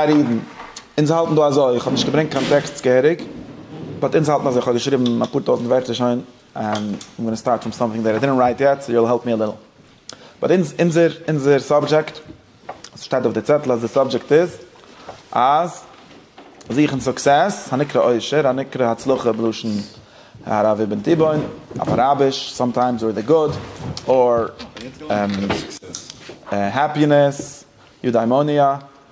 פאר אידן, אונז האלטן דא אזוי, איך האב נישט געברענגט קיין טעקסטס געהעריג, באט אונז האלטן אזוי, איך האב געשריבן אפאר טויזנט ווערטער שוין, איים גאנא סטארט פראם סאמטינג דעט איי דידנט רייט יעט, סאו יו וויל העלפ מי א ליטל, באט אונז, אונזער, אונזער סאבדזשעקט, עס שטייט אויף די צעטל אז די סאבדזשעקט איז אז זוכן סוקסעס, הנקרא אושר, הנקרא הצלחה בלשון הרב אבן תיבון, אויף אראביש, סאמטיימס אור די גוד, אור, און, העפינעס. יודעימוניא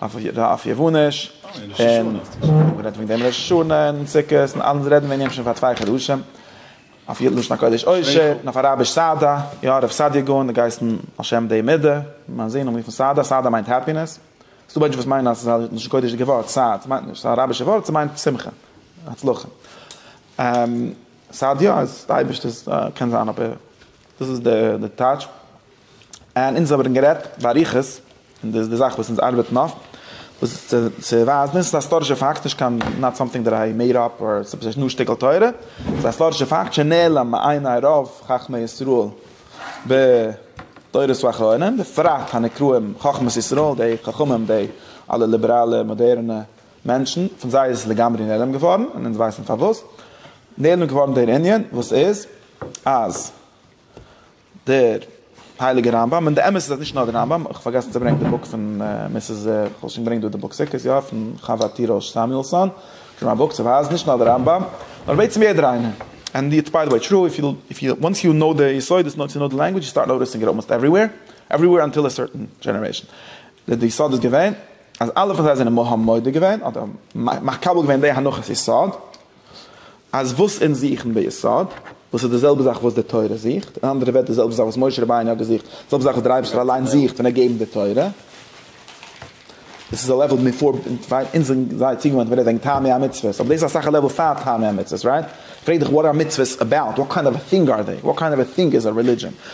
אויף יוונ'יש, און מ'האט גערעדט וועגן דעם ראש השנה און סוכות און אלעס רעדן מיר אין יענעם שוין פאר צוויי חדשים, אויף לשון הקודש עושר און אויף אראביש סאדא, יא הרב סעדיה גאון האט געהייסן על שם די מדה, און מיין זון האט גערופן סאדא, סאדא מיינט העפינעס, ס'דא מענטשן וואס מיינען אז ס'איז א לשון קודש'דיגע ווארט סאד, ס'מיינט נישט, ס'איז א אראבישע ווארט, ס'מיינט שמחה, הצלחה, סאדיה איז די אייבערשטער'ס קען זיין אבער דאס איז די טייטש. און אונז האבען גערעדט באריכות, און דאס איז די זאך וואס אונז ארבעטן אויף, וואס צו צו ווייזן, און ס'איז א היסטארישע פאקט, נישט קיין נאט סאמטינג דעט איי מעיד אפ אר ס'איז פשוט א שטיקל תורה, ס'איז א היסטארישע פאקט שנעלם מעיני רוב חכמי ישראל בדורות האחרונים, בפרט הנקראים חכמת ישראל, די חכמים, די אלע ליבעראלע מאדערענע מענטשן, פון זיי איז עס לגמרי נעלם געווארן, און אונז ווייסן פארוואס נעלם געווארן דער ענין, וואס איז אז דער הייליגער רמב ם, און די אמת איז אז נישט נאר דער רמב ם, איך פארגעסן צו ברענגען די בוק פון מיסעס, איך וואלט שוין געברענגט דא די בוק סוכות יא, פון חוה ט ר' סעמיולסאן, שוין א בוק צו ווייזן נישט נאר דער רמב ם, נאר בעצם יעדער איינער, ענד איטס ביי די וועי טרו, איף יו וואנס יו נאו די יסודות נאו טו נאו די לענגווידזש יו סטארט נאוטיסינג איט אלמאסט עווריוועיר, עווריוועיר אנטיל א סערטען דזשענערעישאן, די יסוד איז געווען אז אלע פון זיי זענען מהם מודה געווען, אדער מקבל געווען די הנחת יסוד. אז וואס אונז זוכן ביסוד, וואס איז די זעלבע זאך וואס די תורה זוכט, אין אנדערע ווערטער די זעלבע זאך וואס משה רבינו האט געזוכט, די זעלבע זאך וואס דער אייבערשטער אליין זוכט ווען ער געבן די תורה, דאס איז א לעוועל מען פארט ווייט, אונז זענען זייער צוגעוואוינט ווען ער רעדט וועגן טעמי המצוות, אבער דאס איז אסאך א לעוועל פאר טעמי המצוות, רייט? פרעג דיך וואט אר מצוות אבאוט? וואט קיינד אוו א טינג אר זיי? וואט קיינד אוו א טינג איז א רעלידזשען?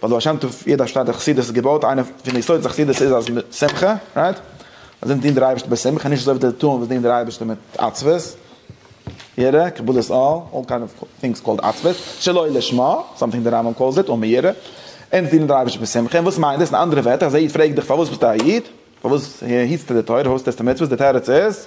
ביי די בעל שם טוב יעדע שטאט די חסידות איז געבויט איינע פון די יסודות די חסידות איז אז שמחה רייט אז אונז דינט דער אייבערשטער בשמחה נישט אזוי ווי די טוען וואס דינען דער אייבערשטער מיט עצבות יראה קבלות אל אל קיינד אוו טינגס קאלד עצבות שלא לשמה סאמטינג די רמב ם קאלס איט אן ביראה אונז דינען דער אייבערשטער בשמחה און וואס מיינט דאס אין אנדערע ווערטער אז א איד פרעגט דיך פארוואס ביסטו א איד פארוואס היטסטו די תורה פארוואס טוסטו מצוות די תירוץ איז.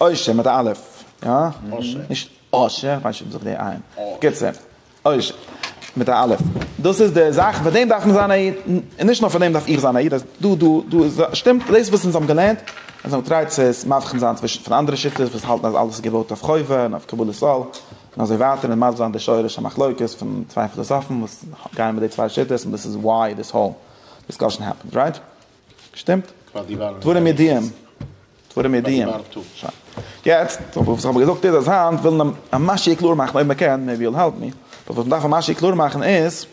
אושר מיט א א', יא? אושר. נישט אושר, כ'ווייס נישט אויב זיך די עיין. בקיצור, אושר מיט א א'. דאס איז די זאך, פאר דעם דארף מען זיין א איד. און נישט נאר פאר דעם דארף איך זיין א איד, אז דא, דא, דא איז א, שטימט דאס וואס אונז האבן געלערנט, אונז האבן געטרייט צו עס מבחין זיין צווישן פון אנדערע שיטות וואס האלטן אז אלעס איז געבויט אויף חובה און אויף קבלת עול, און אזוי ווייטער, און מסביר זיין די שורש המחלוקת פון צוויי פילאזאפן וואס גייען מיט די צוויי שיטות, און דאס איז וואי דיס האול דיסקאשען העפענס, רייט? שטימט? דברים ידיעים. דברים ידיעים. יעצט, וואס כ'האב געזאגט איז אז היינט ווילן א משהו קלאר מאכן, אויב מ'קען, מעיבי יו וויל העלפ מי, באט וואס מ'דארף א משהו קלאר מאכן איז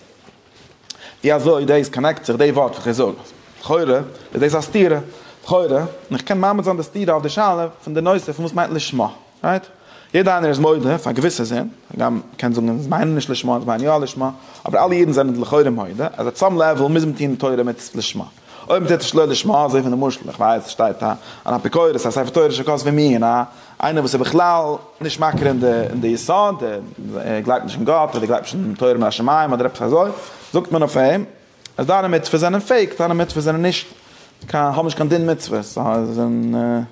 ווי אזוי דאס קאנעקט זיך דעי ווארט וואס איך זאג. לכאורה איז דאס א סתירה. לכאורה. און איך קען מעמיד זיין די סתירה אויף די שאלה פון די נושא פון וואס מיינט לשמה. רייט? יעדער איינער איז מודה פאר געוויסע זינד, הגם מען קען זאגן אונז מיינען נישט לשמה, אונז מיינען יא לשמה, אבער אלע אידן זענען לכאורה מודה אז אט סאם לעוועל מוז מען טון תורה מצות לשמה. אויב מען טוט עס שלא לשמה, אזוי ווי למשל, איך ווייס, שטייט א אן אפיקורס א ספר תורה שכתב ווי מיר, א איינער וואס איז בכלל נישט מכיר אין די אין די יסוד, ער גלייבט נישט אין גאט, אדער גלייבט נישט אין תורה מן השמים אדער עפעס אזוי, זאגט מען אויף אים אז דיינע מצוות זענען פעיק, דיינע מצוות זענען נישט קיין האבן נישט קיין דין מצוות, זיי זענען.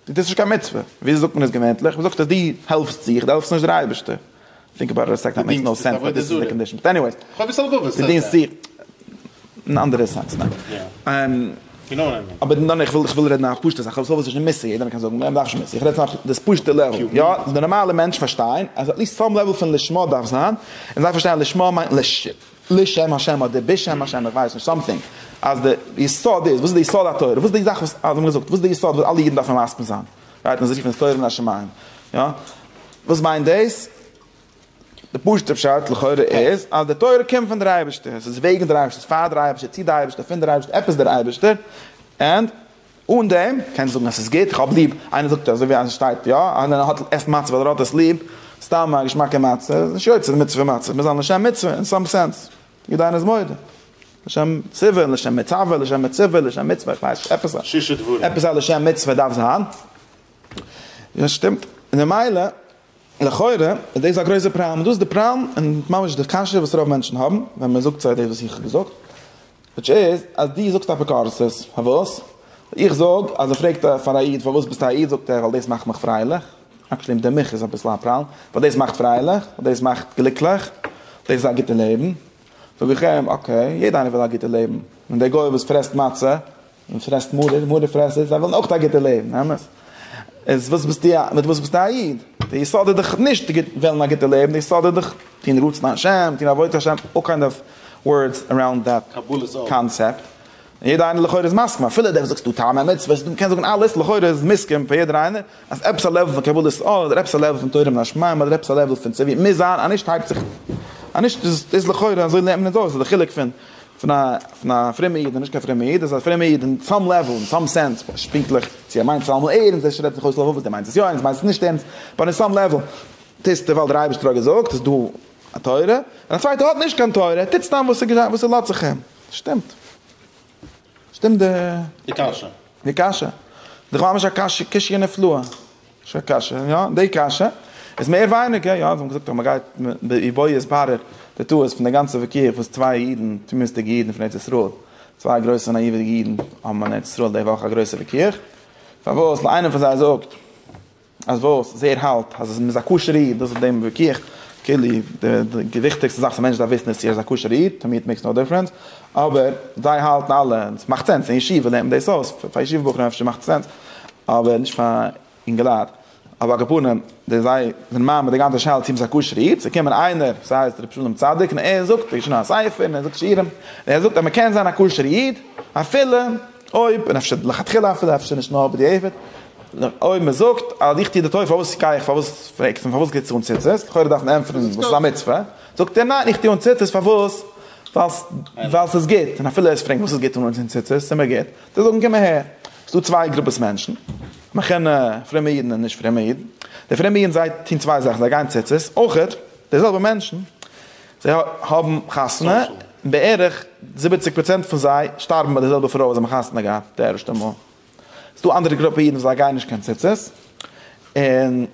דאס איז נישט קיין מצוה, וויאזוי זאגט מען עס געווענטליך? מ'זאגט אז דו העלפסט זיך, דו העלפסט נישט דער אייבערשטער. טינק אבאוט איט א סעקאנד, מעיקס נאו סענס, באט דיס איז די קאנדישאן. באט עניוועיס, דו דינסט זיך, אין אנדערע סענס, ניין? אבער ניין, איך וויל רעדן א פשוטע זאך, אביסל וואס איז נישט מוסר, יעדער קען זאגן, מ'דארף נישט מוסר, איך רעד פון דאס פשוטע לעוול, יא, די נארמאלע מענטשן פארשטייען אז עטליסט סאם לעוול פון לשמה דארף זיין, און זיי פארשטייען אז לשמה מיינט לש ש. לשם השם אדער בשם השם איך ווייס נישט סאמטינג אז די יסוד איז וואס איז די יסוד התורה וואס איז די זאך וואס האבן געזאגט וואס איז די יסוד וואס אלע אידן דארפן מסכים זיין גייט מען זיך רופן תורה מן השמים יא וואס מיינט דאס די פשוטע פשט לכאורה איז אז די תורה קומט פון דער אייבערשטער עס איז וועגן דער אייבערשטער עס איז פאר דער אייבערשטער צו די אייבערשטער פון דער אייבערשטער עפעס דער אייבערשטער ענד אן דעם קענסטו זאגן אז ס'איז גוט, איך האב ליב, איינער זאגט אזוי ווי אז עס שטייט יא אז ווען ער האט עסט מצה ווייל ער האט עס ליב, סתם א געשמאקע מצה, איז נישט יוצא די מצוה פון מצה, מ'איז דן לשם מצוה אין סאם סענס, ווי דיין איז מודה, לשם ציווי, לשם מצווה, לשם מציבה, לשם מצוה, איך ווייס נישט, עפעס א עפעס א לשם מצוה דארף זיין, יא ס'שטימט, און ממילא. לכאורה איז דאס א גרויסע פראבלעם, און דאס איז די פראבלעם און ממש די קשיא וואס רוב מענטשן האבן ווען מען זאגט זיי דאס וואס איך האב געזאגט, וויטש איז אז דו זאגסט אפיקורסות, פארוואס איך זאג אז ער פרעגט פאר א איד פארוואס ביסטו א איד זאגט ער ווייל דאס מאכט מיך פרייליך, עקשעלי אין די מח איז אביסל א פראבלעם, ווייל דאס מאכט פרייליך, ווייל דאס מאכט גליקליך, דאס איז א גוטע לעבן, זאג איך אים אקעי, יעדע איינער וויל א גוטע לעבן, און דער גוי וואס פרעסט מצה און פרעסט מרור, מרור פרעסער, זיי ווילן אויך א גוטע לעבן, אמת? איז וואס ביסטו א, מיט וואס ביסטו א איד? די יסוד איז דאך נישט גוט, וועלן א גוטע לעבן, די יסוד איז דאך טון רצון השם, טון עבודת השם, אלל קיינד אוו ווארדס עראונד דעט קאנצעפט, און יעדער איינער לכאורה איז מסכים, אפילו דער וואס זאגסט דא טעמי מצוות, דו קענסט זאגן אלעס, לכאורה איז מוסכם פאר יעדער איינער אז עפעס א לעוול פון קבלת עול, אדער עפעס א לעוול פון תורה מן השמים, אדער עפעס א לעוול פון צו ווי מוז זיין, א נישט הייבט זיך, א נישט איז לכאורה אזוי לערנט מען עס אויס, די חילוק פון. פון א פון א פרומע איד און נישט קיין פרומע איד איז א פרומע איד אין סאם לעוועל אין סאם סענס נישט פונקטליך צו ער מיינט עס אלעמאל ערענסט ער שרייבט זיך אויס לעבאוויטש דער מיינט עס יא אונז מיינט עס נישט ערענסט באט אין סאם לעוועל טוהסטו ווייל דער אייבערשטער האט געזאגט ס'איז דא א תורה און א צווייטער האט נישט קיין תורה ער טוט סתם וואס וואס ס'לאזט זיך אים שטימט שטימט די די קשיא די קשיא די כ'האב ממש א קשיא קשיא נפלאה. שוין קשיא, יא, די קשיא איז מער ווייניגער, יא, זיי האבן געזאגט אז מען גייט ובו יתברר די טעות פון די גאנצע וויכוח וואס צוויי אידן, תמימות'דיגע אידן פון ארץ ישראל, צוויי גרויסע נאיוודיגע אידן האבן אין ארץ ישראל די וואך א גרויסע וויכוח, פארוואס ווייל איינער פון זיי זאגט אז וואס איז ער האלט אז מען איז א כשר'ע איד, דאס איז די וויכוח, כאילו די וויכטיגסטע זאך וואס א מענטש דארף וויסן איז צו ער איז א כשר'ע איד, תמימות מעיקס נאו דיפרענס, אבער זיי האלטן אלע און עס מאכט סענס אין ישיבה לערנט מען דאס אויס, פאר ישיבה בחורים אפשר מאכט עס סענס אבער נישט פאר אינגעלייט, אבער על כל פנים די זיי זענען מאמין די גאנצע שאלה צו מען איז א כשר'ע איד, ס'איז געקומען איינער וואס הייסט ר' שלום צדיק און ער זאגט ער האט געשריבן א ספר און ער זאגט שיעורים און ער זאגט אז מען קען זיין א כשר'ע איד אפילו אויב און אפשר לכתחילה אפילו אפשר נישט נאר בדיעבד אויב מען זאגט אז איך טו די טובה פארוואס גיי איך פארוואס פרעגסטו פארוואס גיבסטו אן ציצית לכאורה דארף מען ענטפערן וואס איז א מצוה זאגט ער ניין איך טו אן ציצית פארוואס ווייל ס'איז גוט און אפילו ער פרענגט וואס איז גוט אן אן ציצית ס'איז מיר גוט זאל ער זאגן קום אהער ס'דא צוויי גרופעס מענטשן מחונן פרומע אידן און נישט פרומע אידן די פרומע אידן זיי טון צוויי זאכן זיי גייען ציצית אויכעט די זעלבע מענטשן זיי האבן חתונה און בערך זיבעציג פראצענט פון זיי שטארבן ביי די זעלבע פרוי וואס זיי האבן חתונה געהאט די ערשטע מאל. איז דא אנדערע גרופע אידן וואס זיי גייען נישט קיין ציצית, און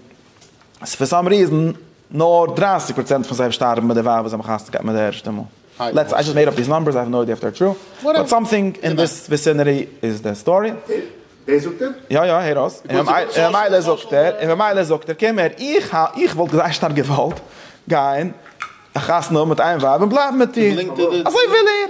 ס'איז פאר סאם ריזען נאר דרײַסיק פראצענט פון זיי שטארבן מיט די ווייב וואס זיי האבן חתונה געהאט מיט די ערשטע מאל. לעטס איי זשאסט מעיד אפ דיס נאמבערס, איי האב נאו איידיע איף דער טרו, באט סאמטינג אין דיס וויסינעטי איז די סטארי. דעס זאגט ער? יא יא, הער אויס, און ממילא זאגט ער, און ממילא זאגט ער, קום הער, איך איך וואלט זייער שטארק געוואלט גיין א חתונה האבן מיט איין ווייב און בלייבן מיט איר, אזוי וויל ער.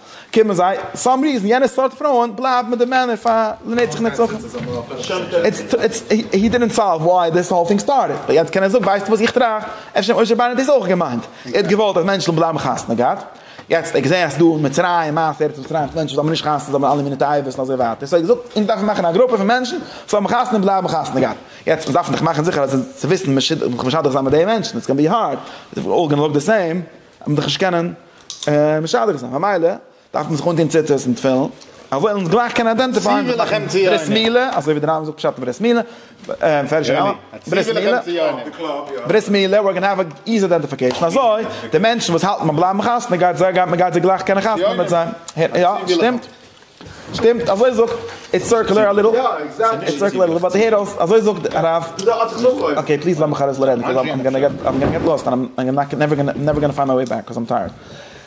קומען זיי, סאם ריזען יענע סארט פרויען בלייבן מיט די מענער פאר לנצח נצחים. איטס הי דידנט סאלוו וואי דיס האול טינג סטארטעד, באט יעצט קען ער זאגן ווייסטו וואס איך טראכט, אפשר משה ביינער האט דאס אויך געמיינט, ער האט געוואלט אז מענטשן זאלן בלייבן חתונה געהאט, יעצט ער האט געזען אז ס'דא אין מצרים מעשה ארץ מצרים וואס מענטשן זאלן מער נישט חתונה זאלן מער אלע מיני תאוות און אזוי ווייטער, סאו ער האט געזאגט אונז דארפן מאכן א גרופע פון מענטשן וואס האבן חתונה און בלייבן חתונה געהאט, יעצט אונז דארפן דאך מאכן זיכער אז צו וויסן מ'שידוך זיין מיט די מענטשן, איטס גאנא בי הארד, איטס אלל גאנא לוק די סעים. מען דאך נישט קענען משדך זיין ממילא דארף מען זיך אנטוהן ציצית און תפילין אז מיר זאלן גלייך קענען איידענטיפייען צי וויל איך אים צי יענעם ברית מילה אזוי ווי די רמב ם זאגט פשט אין ברית מילה מפרש רמב ם ברית מילה ברית מילה ווער גאנע העוו א איזי איידענטיפיקעישן אזוי די מענטשן וואס האלטן ביים בלייבן חתונה גייט זיי גייט מען גייט זיי גלייך קענען חתונה מיט זיי יא שטימט שטימט, אזוי זאגט, איטס סורקלער א ליטעל, איטס סורקלער א ליטעל, באט הער אויס, אזוי זאגט הרב, אקעי פליז לאז מיך ארויס לערנען, קאז איים גאנא געט, איים גאנא געט לאסט, איים נאט גאנא, נעווער גאנא, נעווער גאנא פיינד מיי וועי בעק, קאז איים טייערד,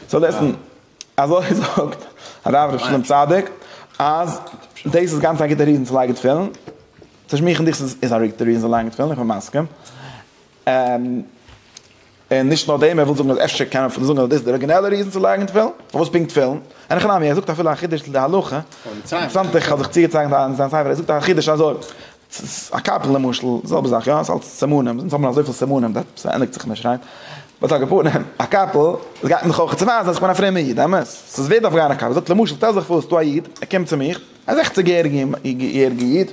סאו ליסטען, אזוי זאגט הרב ר' שלום צדוק, אז דאס איז גאנץ א גוטע ריזען צו לייגען תפילין, צו שמועכען דיך איז א ריזען צו לייגען תפילין, איך בין מסכים, און נישט נאר דעם, ער וויל זאגן אז אפשר קען מען אפילו זאגן אז דאס איז די אריגינעלע ריזן צו לייגן תפילין, פארוואס פונקט תפילין? אין הכי נמי, ער זאגט אפילו א חידוש צו די הלכה, אינטערעסאנט איך האב זיך צוגעצייכנט אין זיין ספר, ער זאגט א חידוש אזוי, א קאפל למשל, זעלבע זאך יא, עס איז אלץ סימנים, אונז האבן אזויפיל סימנים, דעתפ ס ענדיגט זיך נישט רייט, באט א געפארענעם, א קאפל, עס גייט מיר דאך אויך צו ווייזן אז איך בין א פרומער איד, אמת? סאיז ווערד דארף גיין א קאפל, ער זאגט למשל שטעל זיך פאר סאיז דא א איד, ער קומט צו מיך, א זעכציג יעריגע איד,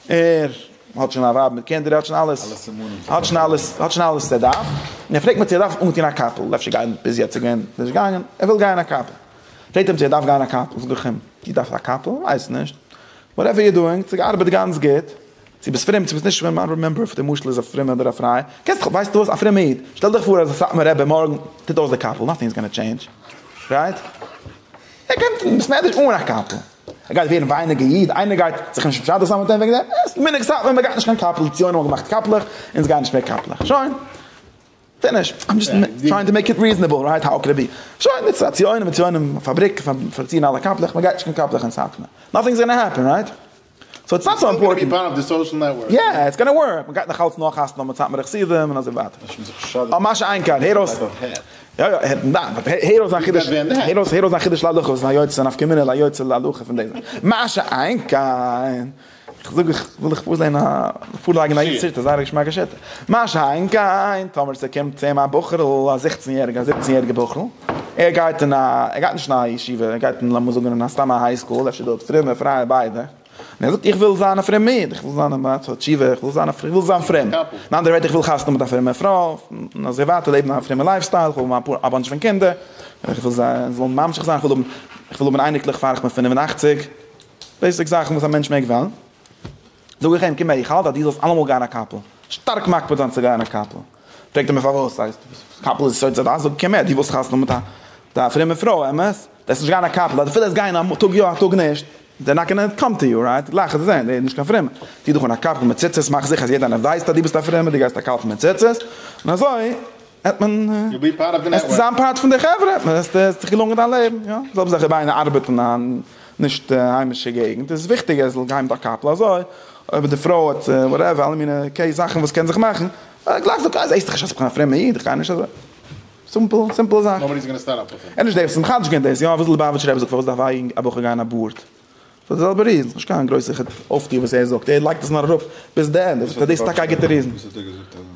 ער. האט שוין א ווייב מיט קינדער, ער האט שוין אלעס, האט שוין אלעס, האט שוין אלעס וואס ער דארף, און ער פרעגט מיר צו ער דארף אנטון א קאפל, אפשר גייען, ביז יעצט איז געווען, ער איז נישט געגאנגען, ער וויל גייען א קאפל, פרעגט אים צו ער דארף גייען א קאפל, זאג איך אים, דו דארפסט א קאפל? ווייס נישט, וואטעווער יור דואינג, צו געארבעט גאנץ גוט, צו ביסט פרום, צו ביסט נישט פרום, איי דאנט רימעמבער אויב די משל איז א פרומע אדער א פריי, קענסט זיך, ווייסט וואס, א פרומע איד, שטעל דיך פאר אז די סאטמאר רבי מארגן טוט אויס די קאפל, נאטינג איז גאנע טשעינדזש, רייט? ער קען, ביסט מער נישט אן א קאפל. ער גייט ווערן ווייניגער איד, איינער גייט זיך נישט מסדר זיין מיט אים וועגן דעם, עס איז מנהג סאטמאר מען גייט נישט קיין קאפל, די ציונים האבן געמאכט קאפלעך, אונז גייען נישט מער קאפלעך, שוין, פיניש, איים דזשאסט טרייען טו מעיק איט ריזענעבל, רייט האו קען איט בי, שוין, איטס א ציונים, ציונים פאבריק, פארציען אלע קאפלעך, מען גייט נישט קיין קאפלעך אין סאטמאר, נאטינג איז גאנא העפען, רייט? סאו איטס נאט סאו אימפארטענט. יא, איטס גאנא ווארק, מען גייט נאך אלץ נאכאסן נאך מיט סאטמארע חסידים און אזוי ווייטער. אויף מה שאין כן, הער אויס, יא יא, הער אויס זיין חידוש, הער אויס זיין חידוש להלכות, זיין יוצא נפקא מינה ליוצא להלכה פון דעם, מה שאין כן, איך זאג איך וויל דיך פארזעהן א פארלייגן א איד סרטה זייער א געשמאקע שרטה, מה שאין כן טאמער ס'קומט צו אים א בחור'ל א זעכצן יעריגע א זיבצן יעריגע בחור'ל, ער גייט אין א ער גייט נישט אין א ישיבה ער גייט אין לאמיר זאגן אין א סתם א היי סקול אפשר דא אפשר דא אין די פרייע ביידע. און ער זאגט איך וויל זיין א פרומד, איך וויל זיין א בעל תשובה, איך וויל זיין א פרומד, איך וויל זיין פרום. אין אנדערע ווערטער איך וויל חתונה מיט א פרומע פרוי, און אזוי ווייטער לעבן א פרומע לייף סטייל, איך וויל האבן אפאר א באנטש פון קינדער, איך וויל זיי זאלן ממשיך זיין, איך וויל האבן, איך וויל האבן אייניקלעך פאר איך בין פֿינף און אַכציק, בעיסיק זאכן וואס א מענטש מעג וועלן. זאג איך אים קום הער איך האלט אז דו זאלסט אלעמאל גיין א קאפל, שטארק מקפיד זיין צו גיין א קאפל. פרעגט ער מיר פארוואס ס'הייסט וואס קאפל איז עס יוצא די אזאגע כמעט דו ווילסט חתונה מיט א פרומע פרוי אמת וועסט נישט גיין א קאפל אפילו וועסט גיין א טאג יא א טאג נישט זיי נאט גאנא קאם טו יו רייט גלייך וועסט זען נישט קיין פרומע טוה דיך אן א קאפל מיט ציצית מאך זיכער אז יעדער איינער ווייסט אז דו ביסט א פרומע דו גייסט א קאפל מיט ציצית און אזוי וועט מען וועסטו זיין פארט פון די חברה וועסט דיך געלונגען דיין לעבן יא זעלבע זאך איז ביי ארבעטן א. נישט היימישע געגנט איז וויכטיגער ער זאל גיין מיט א קאפל אזוי אויב די פרוי האט וואטעווער אלע מיני קעי זאכן וואס קען זיך מאכן גלייך זאגט אה זעסט איך אז איך בין א פרומע איד איך גיי נישט אזוי סימפל סימפל זאך נאבאדי איז גאנע סטענד אפ פאר אים עניש דעיס מחדש געווען דעיס יאר וואס ליבאוויטשער רבי זאגט פארוואס דארף א יונג א בחור גיין א בארד פאר די זעלבע ריזן נישט קיין גרויסע אויפטו וואס ער זאגט ער לייגט עס נאר אראפ ביז די ענדע דאס איז טאקע א גוטע ריזן.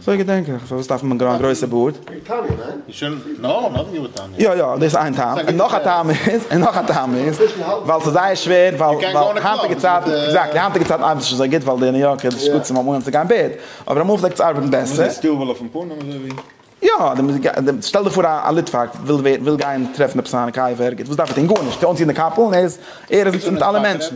זוי געדענק איך, פארוואס דארף מען א גרויסע בארד? וועגן טעמי, ניין? איז שוין נאר נאך געוואר טעמי. יא יא דאס איז איין טעם, און נאך א טעם איז, און נאך א טעם איז, ווייל ס'איז זייער שווער, ווייל ווייל היינטיגע צייטן, עקזעקטלי, היינטיגע צייטן ארבעט עס נישט אזוי גוט, ווייל די ניו יארקער איז גוט צום מארגנס צו גיין בערד, אבער אמאל פלעגט עס ארבעטן בעסער. וואס איז סטיוול אויפן פנים אזוי ווי? יא, שטעל דיך פאר א ליטוואק וויל ווערן, וויל גיין טרעפן עפעס א מקייוו ערגעץ, וואס דארף ער טון? גארנישט, אנציען די קאפל און ער איז, ער איז מיט אלע מענטשן.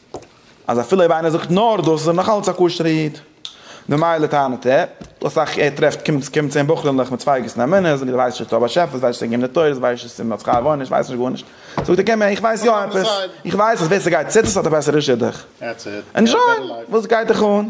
אז אפילו אויב איינער זאגט נאר דאס איז ער נאכאלץ א כשר'ע איד. ממילא טענה'ט ער, דאס אסאך ער טרעפט קומט קומט צו אים בחורים'לעך מיט צווייגעס און אמונות, זאגן זיי ווייסט נישט דער באשעפער, ווייסט נישט ס'געבן די תורות, ווייסט נישט ס'מען האט שכר ועונש, ווייסט נישט גארנישט. זאגט ער קען מיר, איך ווייס יא עפעס, איך ווייס אז ווער ס'גייט צו עס האט א בעסערע שידוך. ענדזשוי! וואס גייט דיך אן?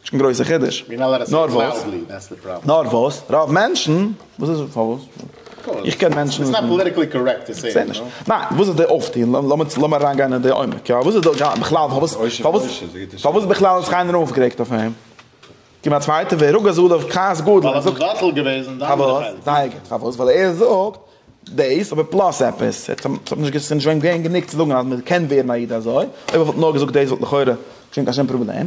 נישט קיין גרויסע חידוש. נאר וואס? נאר וואס? רוב מענטשן, וואס איז פארוואס? איך קען מענטשן. איטס נאט פאליטיקלי קארעקט טו סעי. ניין, וואס איז די אויפטון? לאמיר אריינגיין אין די עומק. יא, וואס איז די גאנ, בכלל פארוואס, פארוואס, פארוואס בכלל האט זיך קיינער אויפגערעגט אויף אים? קום א צווייטער ווי רוגז עליו כעס גדול. ווייל ער האט מבטל געוועזן די אנדערע חלק. זייער גוט. פארוואס? ווייל ער זאגט דאס, אבער פלאס עפעס. ער האט נישט, נישט געווען געווען גענוג צו זאגן אז מען קען ווערן א איד אזוי. אויב ער וואלט נאר געזאגט דאס וואלט לכאורה נישט געווען קיין שום פראבלעם.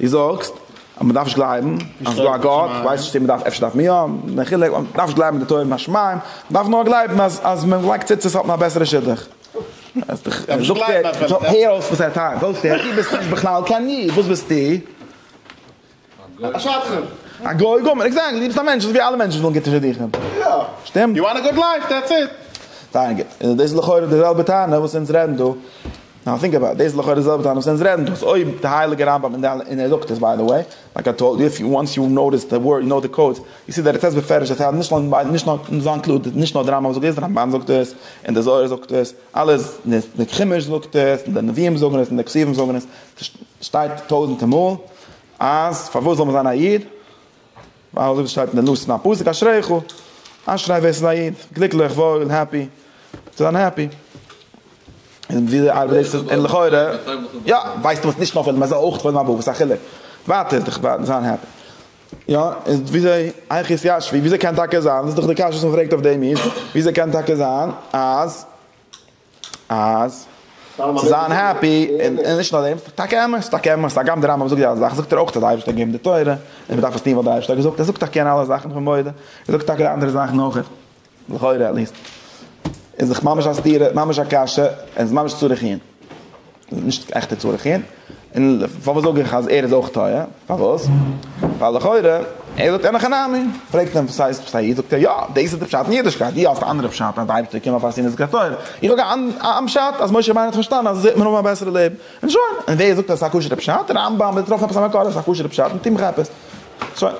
דו זאגסט אז מען דארף נישט גלייבן אז ס'איז דא א גאט, איך ווייס נישט צו מען דארף, אפשר דארף מען יא, מחילה, מען דארף נישט גלייבן אין די תורה מן השמים, מען דארף נאר גלייבן אז אז מען לייגט ציצית האט מען א בעסערע שידוך. הער אויס וואס ער טענה'ט, זאגסט אים, דו ביסט נישט בכלל קיין איד, וואס ביסטו? א שקרן. א גוי גמור, עקזעקטלי, דו ביסט א מענטש אזויווי אלע מענטשן ווילן גוטע שידוכים. שטימט? זייער גוט, דעטס איט. זייער גוט, דאס איז לכאורה די זעלבע טענה וואס אונז רעדן דא. נאו טינק אבאוט איט, דאס איז לכאורה די זעלבע טענה וואס אונז רעדן דא, אז אויב די הייליגע רמב ם און די, און ער זאגט עס ביי די וועי, לייק איי טאלד יו, איף יו, וואנס יו נאטיס די ווארד, יו נאו די קאודס, יו סי דעט איט סעיז בפירוש דעט הייד, נישט נאר, נישט נאר, אונז זענען קלאר, נישט נאר די רמב ם זאגט דאס, די רמבן זאגט עס, און די זוהר זאגט עס, אלעס, די חומש זאגט עס, און די נביאים זאגן עס, און די כתובים זאגן עס, ס'שטייט טויזענטע מאל, אז פארוואס זאל מען זיין א איד? ווייל אזוי ווי עס שטייט אין די נוסח אין א פסוק אשריך, אשרי ווער עס איז א איד, גליקליך, וואויל, העפי, צו זיין העפי. און ווי ארבעט דאס און לכאורה, יא, ווייסט דו וואס נישט נאר וועלן, מען זאל אויך וועלן אבער וואס א חילוק, ווייטער איז דאך ווייל זיין העפי. יא, און וויאזוי היכי ישבי, וויאזוי קען טאקע זיין, דאס איז דאך די קשיא וואס מען פרעגט אויף דעם איד, וויאזוי קען טאקע זיין אז. אז צו זיין העפי, און נישט נאר דעם, טאקע אמת, טאקע אמת, הגם דער רמב ם זאגט די אלע זאכן, זאגט ער אויך אז דער אייבערשטער האט געגעבן די תורה, און מ'דארף עס טון ווייל דער אייבערשטער האט געזאגט, ער זאגט איך קען אלע זאכן, איך בין מודה, ער זאגט טאקע די אנדערע זאכן אויך, לכאורה עטליעסט, איז דאך ממש א סתירה, ממש א קשיא, און ס'איז ממש צריך עיון. נישט עכטע צרכים, און פארוואס זאג איך אז ער איז אויך טועה? פארוואס? ווייל לכאורה, ער זאגט אין הכי נמי, פרעגט אים וואס הייסט וואס א איד? זאגט ער יא, דאס איז די פשט אין אידישקייט, דו האסט א אנדערע פשט אז די אייבערשטער קען נאר פארעסירן איז געטויעט, איך זאג א פשט אז משה רבינו האט פארשטאנען אז עס וועט מען האבן א בעסערע לעבן, און שוין, און ווער זאגט אז עס איז א כשר'ע פשט? רמב ם, וועט טרעפן עפעס א מקור אז עס איז א כשר'ע פשט און טוהן עפעס, שוין.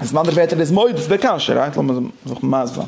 איז אין אנדערע ווערטער דאס מעיד אויף די קשיא, רייט? לאמיר זיך מסביר זיין.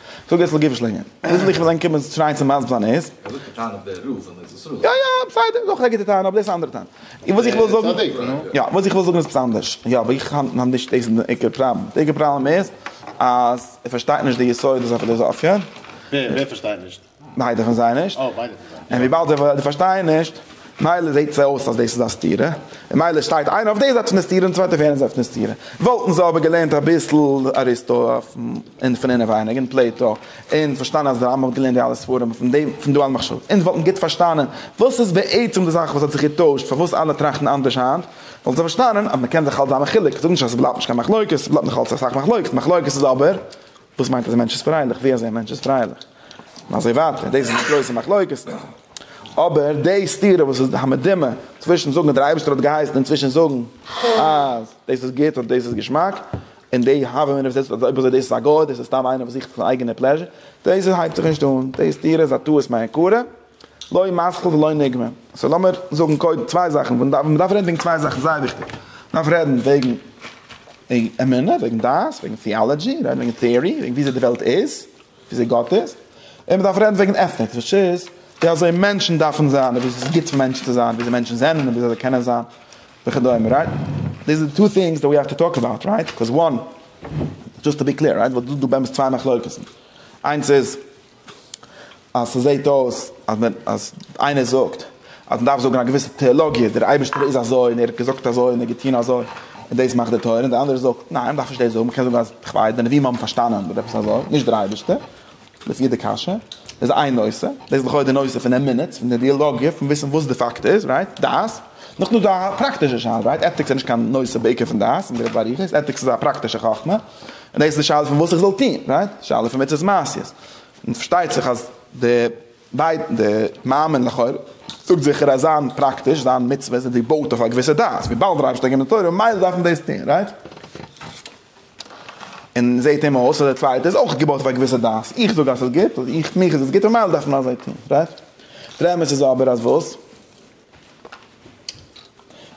זאג עס לגופו של ענין. וויאזוי איך וועל ענק קומען שרייען צו מסבלן איז. ער זאגט א טענה אויף די רוב און ארץ ישראל. יא יא בסדר דאך א גוטע טענה אבער דאס איז א אנדערע טענה. און וואס איך וויל זאגן. צדיק נו. יא וואס איך וויל זאגן איז עפעס אנדערש. יא אבער איך האלט נאך נישט דאס איז די עיקר פראבלעם. די עיקר פראבלעם איז אז ער פארשטייט נישט די יסודות אויף פיליזאפיע. ווער ווער פארשטייט נישט? ביידע פון זיי נישט. און וויבאלד זיי פארשטייען נישט, מילא זעט עס אויס אז דאס איז א סתירה, און מילא שטייט איינער אויף דער זייט פון די סתירה און די צווייטער אויף יענער זייט פון די סתירה. וואלטן זיי אבער געלערנט אביסל אריסטו און פון אינעווייניג און פלעיטא, און פארשטאנען אז דער רמב ם האט געלערנט די אלע ספרים פון דעם, פון דא אלע מחשבות, און זיי וואלטן גוט פארשטאנען וואס איז בעצם די זאך וואס האט זיך געטוישט, פארוואס אלע טראכטן אנדערש היינט, וואלטן זיי פארשטאנען אז מען קען זיך האלט זיין מחולק, איך זאג נישט אז עס בלייבט נישט קיין מחלוקת, עס בלייבט נאך אלץ אסאך מחלוקת, מחלוקת איז אבער וואס מיינט אז א מענטש איז פרייליך? ווי אזוי א מענטש איז פרייליך? און אזוי ווייטער, דאס איז די גרויסע מחלוקת. אבער די סתירה וואס איז די המדומה צווישן זאגן אז דער אייבערשטער האט געהייסן און צווישן זאגן אז דאס איז גוט אדער דאס איז געשמאק, און די הוה מינא וואס דאס איז, אויב אזוי דאס איז א גוי, דאס איז סתם איינער וואס זוכט זיין אייגענע פלעזשער, דאס האלט זיך נישט אן, די סתירה איז א טעות מעיקרא. לא מתחיל ולא נגמר. סאו לאמיר זאגן קודם צוויי זאכן, ווען מ'דארף, מ'דארף רעדן וועגן צוויי זאכן זייער וויכטיג, מ'דארף רעדן וועגן אמונה, וועגן דעת, וועגן טיאלעדזשי, רעדן וועגן טעארי, וועגן וויאזוי די וועלט איז, וויאזוי גאט איז, און מ'דארף רעדן וועגן עטיקס, וויטש איז ווי אזוי מענטשן דארפן זיין, און ווי ס'איז גוט פאר מענטשן צו זיין, וויאזוי מענטשן זענען און וויאזוי זיי קענען זיין וכדומה, רייט? דעיס איז די טו טינגס דעט ווי האוו טו טאלק אבאוט, רייט? ביקאוז וואן, דזשאסט טו בי קלעיר, רייט? ווייל דא איז דא באמת צוויי מחלוקת'ן, איינס איז אז ס'זעהט אויס אז מען אז איינער זאגט אז מען דארף זאגן א געוויסע טעאלאגיע, דער אייבערשטער איז אזוי און ער האט געזאגט אזוי און ער האט געטון אזוי און דאס מאכט די תורה, און דער אנדערער זאגט ניין מען דארף נישט דאס זאגן, מען קען זאגן אז כ'ווייס די נביאים האבן פארשטאנען אדער עפעס אזוי, נישט דער אייבערשטער, לפי די קשיא, דאס איז איין נושא, דאס איז לכאו' די נושא פון אמונות, פון די אידילאגיע, פון וויסן וואס די פאקט איז, רייט? דעת. נאכדעם איז דא א פראקטישע שאלה, רייט? עטיקס איז נישט קיין נושא בעיקר פון דעת, און דער באריכות, עטיקס איז א פראקטישע חכמה. און דאס איז די שאלה פון וואס איך זאל טון, רייט? די שאלה פון מצות מעשיות. און פארשטייט זיך אז די ביידע, די מאמין לכאורה, זאגט זיכער אז זיין פראקטיש, זיין מצוות איז געבויט אויף א געוויסע דעת, וויבאלד דער אייבערשטער האט געגעבן די תורה ממילא דארף מען דאס טון, רייט? און זעט אים אויס אז די צווייטע איז אויך געבויט אויף א געוויסע דעת, איך זאג אז עס איז גוט, איך מיך איז עס גוט ממילא דארף מען אזוי טון, רייט? דער אמת איז אבער אז וואס?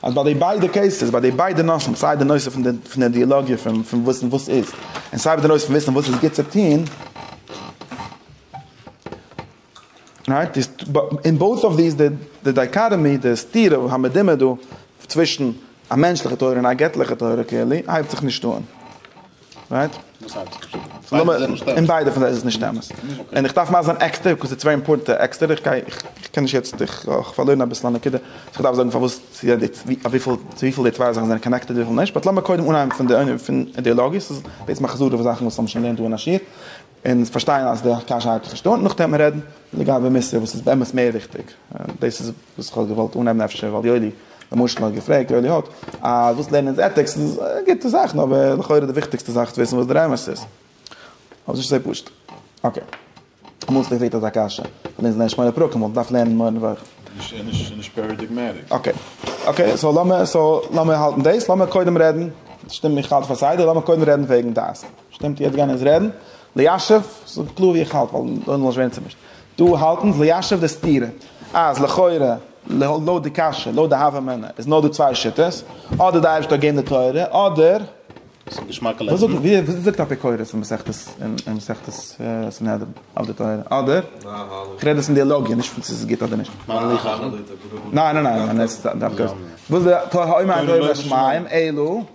אז ביי די ביידע קעיסעס, ביי די ביידע נושאים, סיי די נושא פון די פון די אידעלאגיע פון פון וואס און וואס איז, און סיי ביי די נושא פון וויסן וואס איז גוט צו טון, רייט? איז אין בויט אוו דיס די די דייקאטעמי, די סתירה המדומה דא צווישן א מענטשליכע תורה און א געטליכע תורה קלעירלי הייבט זיך נישט אן. רייט? וואס הייסט נישט אמת? ביידע זענען נישט אמת. אין ביידע פון זיי איז עס נישט אמת. און איך דארף מאכן זיין עקסטער, ביקאוז ס'איז צוויי אימפארטענטע עקסטער, איך גיי, איך קען נישט יעצט, איך האב פארלוירן אביסל א נקודה, אז איך דארף זאגן פארוואס צו יעדע, אויף וויפיל, צו וויפיל די צוויי זאכן זענען קאנעקטעד וויפיל נישט, באט לאמיר קודם אנהייבן פון די ענין פון אידעאלאגיעס, דאס איז בעצם א חזרה אויף זאכן וואס האבן שוין געלערנט דא אין א שיעור. און פארשטיין אז די קשיא האב איך פארשטאנען, נאכדעם וועט מען רעדן לגבי מוסר וואס איז באמת מער וויכטיג, דאס איז וואס איך האב געוואלט אנהייבן אפשר ווייל יואלי למשל האט געפרעגט, יואלי האט, אז וואס לערנען איז עטיקס, איז א גוטע זאך, נו אבער לכאורה די וויכטיגסטע זאך איז צו וויסן וואס דער אמת איז, אבער ס'נישט אזוי פשוט, אקעי, אמאל ס'ווערט געפרעגט אזא קשיא, כ'האב לענגסט געלערנט שמונה פרקים, וואלט געדארפט לערנען מורה נבוכים. ס'איז נישט פאראדיגמעטיק. אקעי, אקעי, סאו לאמיר, סאו לאמיר האלטן דאס, לאמיר קודם רעדן, שטומט מיר כהאלט פאר סדר, לאמיר קודם רעדן וועגן דעת. שטימט יעצט גייען אונז רעדן ליישב זאג קלאר ווי איך האלט ווייל דאן זאל נישט ווערן צומישט דא האלט אונז ליישב די סתירה אז לכאורה לויט די קשיא לויט די הוה אמינא איז נאר דא צוויי שיטות אדער די אייבערשטער האט געגעבן די תורה אדער ס'איז געשמאקע לעבן. וואס זאגט אפיקורס אין מסכת אין מסכת סנהדרין אויף די תורה? אדער? איך רעד דאס אין די לאגיע נישט פון צו ס'איז גוט אדער נישט. מה לי חכמה? ניין ניין ניין. וואס זאגט האומר אדוני בשמים אלו?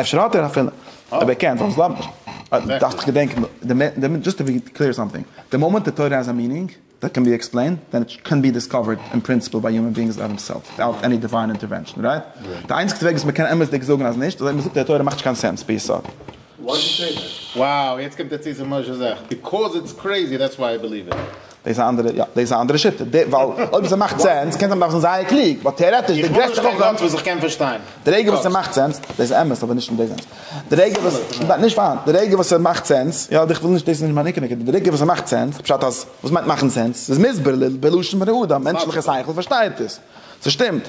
אפשר האט ער אפילו, אויב ער קען זאל עס לאזן. איך דארף דאך געדענקען, דזשאסט טו בי קלעיר סאמטינג, די מאמענט די תורה האזט א מינינג דעט קען בי עקספלעינד, דען איט קען בי דיסקאווערד אין פרינציפעל ביי יומען ביאינגס אויף דעם סעלף וויטאוט עני דיוויין אינטערווענשאן, רייט? די איינציגסטע וועג וואס מ'קען אמת'דיג זאגן אז נישט, איז אויב מ'זאגט אז די תורה מאכט נישט קיין סענס ביסוד. Why would you say that? Wow, יעצט קומט ער צו צום משה זאך, Because it's crazy, that's why I believe it. דאס איז א אנדערע יא דאס איז א אנדערע שיטה די ווייל אויב עס מאכט סענס קען זיין מ'דארף זיין זייער קלוג באט טעארעטיש די גרעסטע חכם איך האב נישט קיין גאט וואס איך קען פארשטיין די רגע וואס ס'מאכט סענס דאס איז אמת אבער נישט אין דעם סענס די רגע וואס נישט נישט פארהאן די רגע וואס ס'מאכט סענס יא איך וויל נישט דאס איז נישט מיין עיקר נקודה די רגע וואס ס'מאכט סענס פשט אז וואס מיינט מאכן סענס ס'איז מסביר בלשון בני אדם מענטשליכע שכל פארשטייט עס ס'שטימט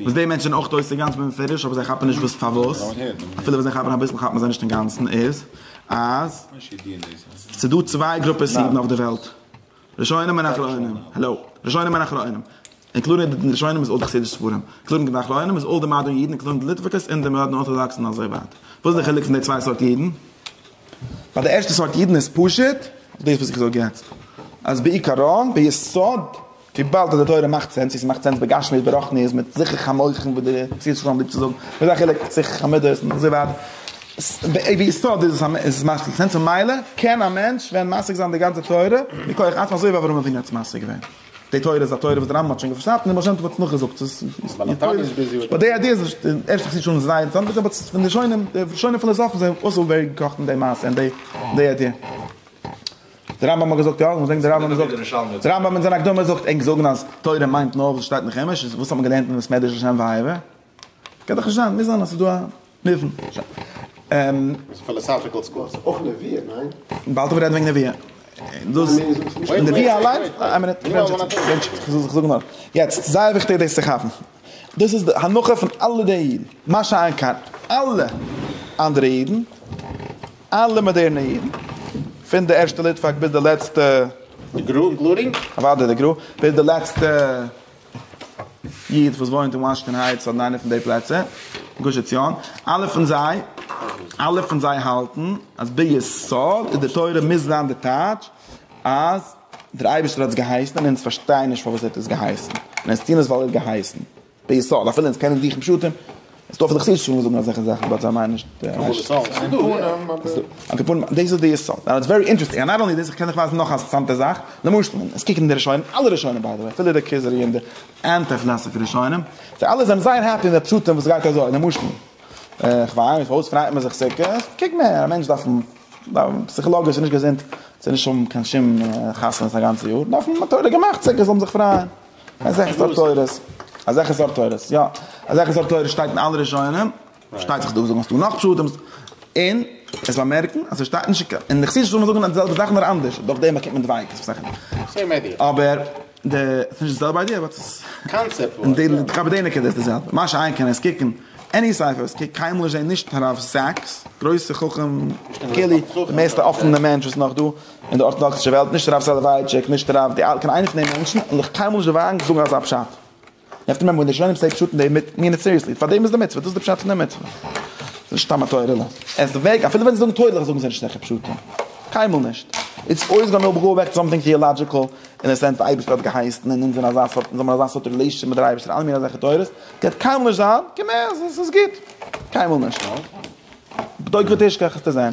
וואס די מענטשן זענען אויך אויס אינגאנצן בפירוש אבער זיי כאפן נישט וואס פארוואס אפילו ווען זיי כאפן אביסל כאפן זיי נישט אינגאנצן איז אז ס'איז דא צוויי גרופעס אידן אויף די וועלט ראשונים און אחרונים האלא ראשונים און אחרונים אינקלודינג די ראשונים איז אויל די חסידישע ספרים אינקלודינג די אחרונים איז אויל די מאדערן אידן אינקלודינג די ליטוואקעס און די מאדערן ארטאדאקס און אזוי ווייטער וואס איז די חילוק פון די צוויי סארט אידן? ביי די ערשטע סארט אידן איז פשוט דאס וואס איך זאג יעצט אז בעיקרון ביסוד וויבאלד אז די תורה מאכט סענס און ס'מאכט סענס בגשמיות ברחניות מיט זיכוך המוחין וואס די חסידות שלום ליבט צו זאגן וואס איז א חילוק זיכוך המידות און אזוי ווייטער ביסוד איז עס מאכט סענס ממילא קען א מענטש ווען משיג זיין די גאנצע תורה מכח עצמו אזוי ווי אברהם אבינו האט עס משיג געווען די תורה איז א תורה וואס די רמב ם האט שוין געפארשאפט און די בעל שם טוב האט עס נאכגעזאגט ס'איז נישט די איידיע איז די ערשטע חסידות שלום איז זייער אינטערעסאנט אבער פון די שונאים די שונאים פילאזאפן זענען אויסעלגעקאכט אין די מעשה און די איידיע. די רמב ם האט געזאגט יא, וואס דענקט די רמב ם זאגט? די רמב ם אין זיין הקדמה זאגט ענק זאגן אז תורה מיינט נאר וואס שטייט אין חומש, איז וואס האט מען געלערנט אין בית מדרש לשם ואהבה? קען דאך נישט זיין, מוז זיין אז ס'איז דא א מובן. ס'איז פילאסאפיקעל סקול. ס'איז אויך נביאה, ניין? באלד וועט רעדן וועגן נביאה. דאס נביאה אליין, איין מינוט, איך זאג נאר. יעצט, זייער וויכטיג דאס צו כאפן. דאס איז די הנחה פון אלע די אידן, מה שאין כן אלע אנדערע אידן, אלע מאדערנע אידן, פון די ערשטע ליטוואק ביז די לעצטע. די גרא און גלארינג? אוודאי די גרא, ביז די לעצטע איד וואס וואוינט אין וואשינגטאן הייטס אדער איינע פון די פלעצער, גוש עציון, אלע פון זיי, אלע פון זיי האלטן אז ביסוד איז די תורה מוז זיין די טייטש אז דער אייבערשטער האט עס געהייסן און אונז פארשטייען נישט פארוואס ער האט עס געהייסן, און אונז טוען עס ווייל ער האט געהייסן. ביסוד אפילו אונז קענען זיכן פשטים איז דא פון די חסידישע ספרים וואס זאגן אזעלכע זאכן באט זיי מיינען נישט א כפונם אבער דאס איז די יסוד נאו איטס ווערי אינטערעסטינג און נאט אנלי דאס איך קען דיך ווייזן נאך א אינטערעסאנטע זאך למשל מען עס קוקט אין די ראשונים אלע ראשונים ביי די וועי אפילו די כוזרי און די אנטי פילאסאפי ראשונים זיי אלע זענען זייער העפי מיט די פשטים וואס גייט אזוי למשל איך וויין מיט וואס פריידט מען זיך סוכות קוק מען א מענטש דארף פסיכאלאגיש איז נישט געזונט צו נישט האבן קיין שום חתונות א גאנצע יאר דארף מען תורה געמאכט סוכות זאל מען זיך פרייען. אזעלכע סארט תורות, אזעלכע סארט תורות, יא, אזעלכע סארט תורות שטייט אין אלע ראשונים, פארשטייט זיך דא זאגן אז דא נאך פשטים, און עס באמערקן אז עס שטייט נישט אין, אין די חסידישע זאל מען זאגן די זעלבע זאך נאר אנדערש, דורך דעם באקומט מען דווייטער, ס'איז אסאך סעים איידיע, אבער די, ס'איז נישט די זעלבע איידיע באט ס'איז, קאנצעפט ווייז יא, לגבי די נקודה איז די זעלבע, מה שאין כן עס קוקן עני ספר וואס קוקט קיינמאל נישט זעהן נישט הרב סאקס, גרויסע חכם, די מערסטע אפענע מענטש וואס נאך דא. אין די ארטאדאקסישע וועלט, נישט הרב סאלאווייטשיק, נישט הרב די, קיין איינע פון די מענטשן האט נאך קיינמאל נישט וואגן צו זאגן אזא פשט. יעצט רעדט מען ווען די ראשונים סעי פשט און די מיט מין איט סיריעסלי, פאר דעם איז די מצוה, דאס איז די פשט פון די מצוה. ס'איז נישט סתם א תורה'לע. עס איז וועג, אפילו ווען זיי זאגן תורה'לעך זאגן זיי נישט אזעלכע פשטים. קיינמאל נישט. איטס אויס גאנא וויל גאו בעק סאמטינג טעאלאדזשיקל אין די סענס די אייבערשטער האט געהייסן און אונז זענען אזא סארט אונז האבן אזא סארט רילעישאנשיפ מיט דער אייבערשטער אלע מינע אזעלכע תורות גייט קיינמאל נישט זיין, קען מער, ס'איז גוט. קיינמאל נישט. בדוק ותשכח עסטו זען.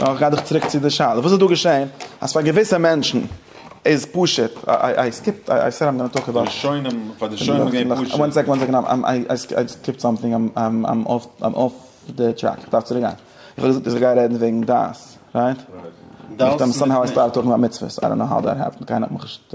נאר כ'גיי דיך צוריק צו די שאלה, וואס איז דא געשען אז פאר געוויסע מענטשן איז פשוט איי סקיפט איי סעד איים גאנא טאלק אבאוט ראשונים, פאר די ראשונים איז געווען פשוט. וואן סעקאנד, וואן סעקאנד, איי סקיפט סאמטינג, איים אףף די טרעק, כ'דארף צוריק גיין, איך האב געזאגט אז כ'גיי רעדן וועגן דעת, רייט? דאס מיט נישט. סאמהאו איי סטארטעד טאלקינג אבאוט מצוות, איי דאנט נאו האו דעט העפענד, קיינער האט מיך נישט.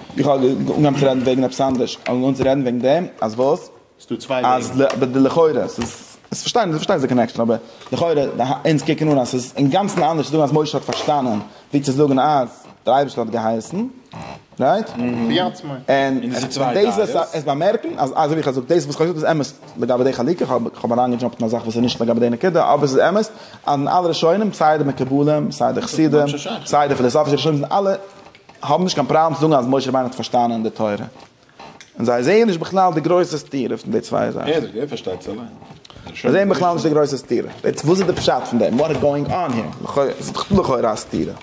איך האב אנגעהויבן צו רעדן וועגן עפעס אנדערש, איך האב אנגעהויבן צו רעדן וועגן דעם אז וואס? ס'איז דא צוויי וועגן. אז די לכאורה, ס'איז פארשטיין, איך פארשטיי די קאנעקשאן, אבער לכאורה אונז קוקן אן אז ס'איז אינגאנצן אנדערש צו זאגן אז משה האט פארשטאנען, ווי צו זאגן אז דער אייבערשטער האט געהייסן, רייט? און דאס וועסט עס באמערקן, אז אזוי ווי איך האב געזאגט, דאס וואס איך האב געזאגט איז אמת לגבי די חלוקה, איך האב איך האב אריינגעדזשאמפט אין א זאך וואס איז נישט לגבי די נקודה, אבער ס'איז אמת אז אין אלע ראשונים, סיי די מקובלים, סיי די חסידים, סיי די פיליסאפישע ראשונים, זענען אלע. האבן נישט קיין פראבלעם צו זאגן אז משה רבינו האט פארשטאנען די תורה, און זיי זעען נישט בכלל די גרויסע סתירה פון די צוויי זאכן. ער פארשטייט עס אליין. זיי זעען בכלל נישט די גרויסע סתירה. יעצט וואס איז די פשט פון דעם? וואט איז גאואינג אן העיר? לכאו' עס איז דאך לכאורה א סתירה.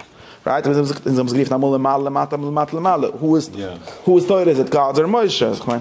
רייט? און זיי האבן עס גערופן אמאל למעלה למטה אמאל למטה למעלה. הא איז הא איז תורה? איז איט גאד'ס אר משה? אז כ'מיין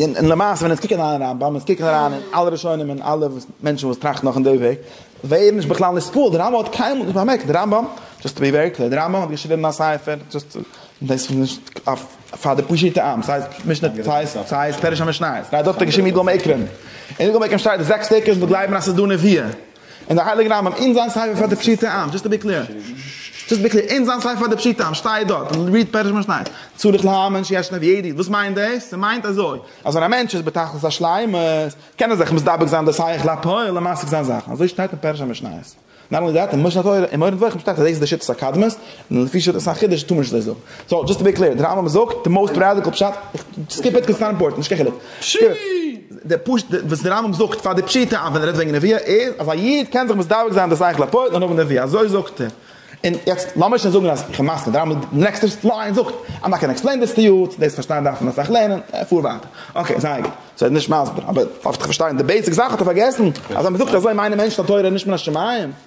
און למעשה ווען אונז קוקן אריין אין רמב ם, אונז קוקן אריין אין אלע ראשונים און אלע מענטשן וואס טראכטן נאך אין די וועג, ווערן נישט בכלל נספּל, דער רמב ם האט קיינמאל נישט באמערקט, דער רמב ם, דזשאסט טו בי ווערי קלער, דער רמב ם האט געשריבן א ספר, דזשאסט טו, דאס איז נישט פאר די פשוטע עם, ס'הייסט משנה, ס'הייסט פרש המשניות, דארט האט ער געשריבן יגאל מעיקרען, אין יגאל מעיקרען שטייט די זעקס טעג וואס מ'וועט גלייבן אז ס'איז דא נביאים. אין די הייליגע רמב ם אין זיין ספר פאר די פשוטי עם, דזשאסט טו בי קלער, דזשאסט טו בי קלער, אין זיין ספר פאר די פשוטי עם שטייט דארט, ריעד פרש משניות, צריך להאמין שיש נביא עתיד, וואס מיינט דאס? ס'מיינט אזוי, אז ווען א מענטש איז בתכלית השלימות, קען ער זיך מסתפק זיין דאס הייעך לפועל און משיג זיין זאכן, אזוי שטייט אין פרש המשניות, נאט אנלי דעט, אין משנה תורה, אין מורה נבוכים שטייט אז דאס איז די שיטת הקדמות, און לפי שיטת החידוש טאר מען נישט אזוי זאגן. סאו דזשאסט טו בי קלעיר, דער רמב ם זאגט די מאוסט ראדיקעל פשט, סקיפ איט קענסט סתם אימפארטן נישט קיין חילוק. די פשט וואס דער רמב ם זאגט פאר די פשוטע עם ווען ער רעדט וועגן נביאה איז אז א איד קען זיך מסדבק זיין דאס אייך לפועל און האבן נביאה אזוי זאגט ער. און יעצט לאמיר שוין זאגן אז איך מסכים, דער רמב ם די נעקסטע ליין זאגט איים נאט גאנא עקספלעין דיס טו יו, צו דאס פארשטיין דארף מען אסאך לערנען, פאר ווייטער. אקעי זייער גוט, סאו ער איז נישט מסביר, אבער אויף איך פארשטיי די בעיסיק זאך האט ער פארגעסן אז אז מען זאגט אזוי מיינען מענטשן אז תורה איז נישט מן השמים.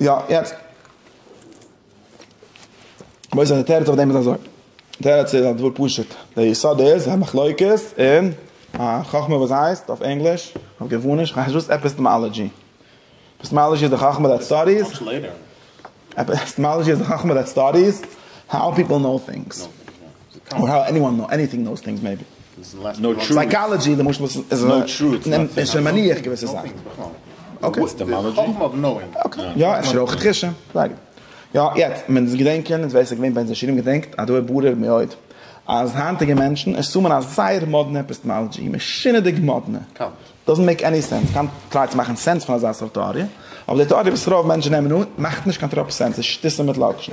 יא יעצט וואס איז די תירוץ אויף דעם איז אזוי די תירוץ איז א דבר פשוט די יסוד איז א מחלוקת אין א חכמה וואס הייסט אויף ענגליש אויף געווניש כ'ווייס נישט וואס עפיסטעמאלעדזשי עפיסטעמאלעדזשי איז די חכמה דעט סטאדיס עפיסטעמאלעדזשי איז די חכמה דעט סטאדיס האו פיפל נאו טינגס און האו עניוואן נאו עניטינג נאוס טינגס מעיבי סייקאלעדזשי למשל איז איז שוין מניח געוויסע זאכן יא אפשר אויך חידושים זייגער יא יעצט מען דאס געדענקען איז ווער עס איז געווען בן זשירים געדענקט אז דא התברר מאוד אז היינטיגע מענטשן עס האבן א זייער מאדנע עפיסטעמאלעדזשי משונה'דיג מאדנע דאזענט מעיק עני סענס קיינער טרייט צו מאכן סענס פון אזא סארט טעאריע אבער די טעאריע וואס רוב מענטשן נעמען אן מאכט נישט קיין טראפ סענס איז שטותים מיט לאקשן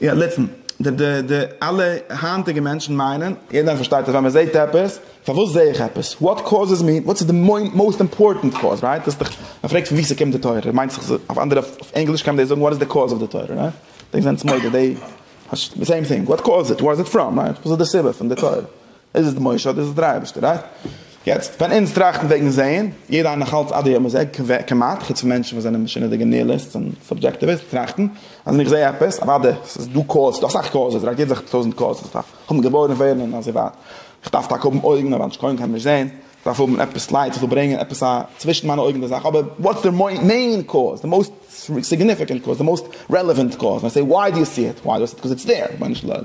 יא ליצן. די די די אלע היינטיגע מענטשן מיינען. יעדער איינער פארשטייט אז ווען מען זעהט עפעס, פארוואס זעה איך עפעס? וואט קאוזעס מי? וואטס איז די מאוסט אימפארטענט קאוז? רייט? דאס איז דאך, מען פרעגט פון וואו ס'קומט די תורה, מיינט זיך אויף אנדערע אויף ענגליש קען מען דאס זאגן וואט איז די קאוז אוו די תורה? רייט? דעי זענטס מודה דעי, די סעים טינג, וואט קאוז איט? ווער איז איט פראם? רייט? וואס איז די סיבה פון די תורה? איז עס די משה אדער איז עס דער אייבערשטער? רייט? יעצט ווען אונז טראכטן וועגן זעהן, יעדער איינער נאכאלץ עד היום הזה, כמעט, חוץ פון מענטשן וואס זענען משונה'דיגע ניהיליסטס און סאבדזשעקטיוויסטס, טראכטן אז ווען איך זעה עפעס, אוואדע עס איז דא קאוז, ס'דא אסאך קאוזעס, רייט? יעדער זאגט טויזענט קאוזעס, איך דארף האבן געבוירן ווערן און אזוי ווייטער, איך דארף טאקע האבן אויגן אבער אנש קוים קען נישט זעהן, איך דארף האבן עפעס לייט וואס זאל ברענגען עפעס א צווישן מיינע אויגן די זאך, אבער וואטס די מעין קאוז, די מאוסט סיגניפיקענט קאוז, די מאוסט רעלעווענט קאוז, און איי סעי וואי דו יו סי איט, וואי דו יו סי איט, קאוז איטס דער, ריבונו של עולם.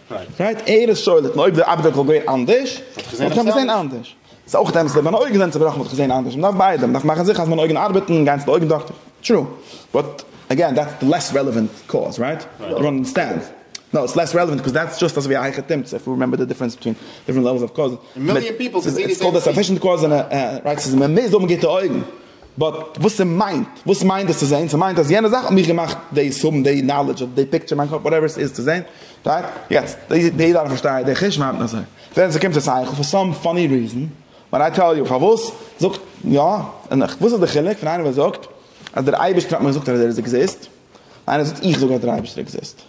גייט ערעס שולט אויב די אבדק וואלט געווען אנדערש וואלט איך געזען עפעס אנדערש. ס'איז אויך אמת אז אויב מיינע אויגן זענען צובראכן וואלט איך געזען אנדערש. מ'דארף ביידע. מ'דארף מאכן זיכער אז מיינע אויגן ארבעטן און גיין צו די אויגן דאקטער. טרו. באט עגעין דעטס די לעסט רעלעווענט קאוז רייט? אדער אנדערסטענד. נאו איטס לעסט רעלעווענט קאוז דעטס דזשאסט אזויווי א הייכע תמצית איף יו רימעמבער די דיפרענס ביטווין דיפרענט לעוועלס אוו קאוז. מיליאן פיפל קען זעהן די סעים טינג. ס'איז קאלד א סאפישענט קאוז און א רייט סעזאן. מ'מוז האבן גוטע אויגן. באט וואס ס'מיינט, וואס מיינט דאס צו זעהן? ס'מיינט אז יענע זאך האט מיך געמאכט דאס האבן, דעי נאלעדזש אדער דעי פיקטשער אין מיין קאפ, וואטעווער עס איז צו זעהן, רייט? יעצט, דעי יעדע איינער פארשטייט, דעי חוש מיינט אזוי. ווען ס'קומט צו שכל, פאר סאם פאני ריזען, ווען איי טעל יו פארוואס, זאגט, יא, און איך, וואס איז די חילוק פון איינער וואס זאגט אז דער אייבערשטער האט מיר געזאגט אז ער איז עקזיסט, און איינער וואס זאגט איך זאג אז דער אייבערשטער עקזיסט?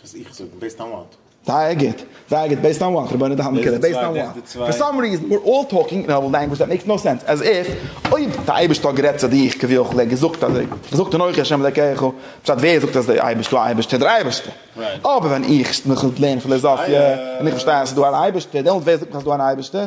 וואס איך זאג? דאס טעמעט. זייער גוט, זייער גוט, בעיסד אן וואט? רבונו דעלמא קעלער, בעיסד אן וואט? פאר סאם ריזען יו אר אלל טאלקינג אין אלל לענגוויזש דעט מעיקס נאו סענס, עז איף אויב דער אייבערשטער האט גערעדט צו דיך כביכול, ער האט געזאגט אזוי, געזאגט אנכי השם אלקיך, פשט ווער זאגט אז דער אייבערשטער, דער אייבערשטער, דער אייבערשטער? אבער ווען איך מיך לערן פילאזאפיע און איך פארשטיי אז ס'איז דא אן אייבערשטער, דעמאלט ווער זאגט אז ס'איז דא אן אייבערשטער?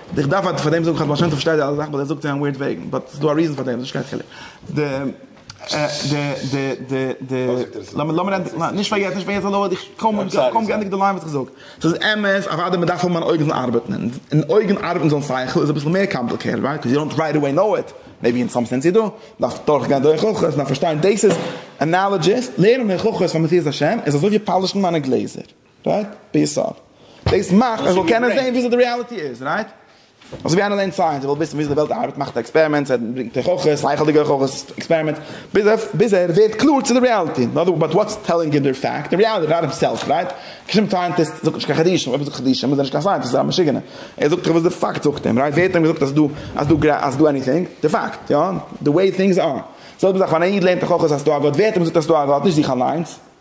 איך דארף אט פאר דעם זאגן חז ל השם טוב שטייט די אלע זאכן באט ער זאגט צו אים ווירט וועגן באט ס'איז דא א ריזן פאר דעם ס'איז נישט קיין חילוק די די די די די לאמיר ענדיגן נישט פאר יעצט נישט פאר יעצט האלא איך קוים קוים געענדיגט די ליין וואס איך זאג ס'איז אמת אוואדי מ'דארף האבן אן אויגן ארבעטן און אויגן ארבעטן זאל שכל איז אביסל מער קאמפליקעיטעד רייט קאוז יו דאנט רייט עוועי נאו איט מעיבי אין סאם סענס יו דא מ'דארף דורך גיין דורך הוכחות מ'דארף פארשטיין דאס איז אנאלאדזשיס לערנען הוכחות פאר מציאות השם איז אזוי ווי פאלישן מיינע גלעזער. רייט? ביסד. דאס מאכט אז ער זאל קענען זעהן וויאזוי די ריאליטי איז, רייט? אזוי ווי איינער לערנט סייענס, ער וויל וויסן וויאזוי די וועלט ארבעט, מאכט ער עקספערימענטס, ער ברענגט הוכחות, שכל'דיגע הוכחות, עקספערימענטס, ביז ער, ביז ער ווערט קלאר צו די ריאליטי. אין אדער באט וואטס טעללינג אים דער פאקט? די ריאליטי אבאוט הימסעלף, רייט? קיין שום סייענטיסט זאגט נישט קיין חידושים, אויב ער זאגט חידושים איז ער נישט קיין סייענטיסט, איז ער א משוגענער. ער זאגט דאך וואס די פאקט זאגט אים, רייט? ווער האט אים געזאגט אז דא, אז דא, אז דא עניטינג? די פאקט, יא? די וועי טינגס אר. זעלבע זאך ווען א איד לערנט הוכחות אז ס'דא א גאט, ווער האט אים געזאגט אז ס'דא א גאט? נישט זיך אליינס.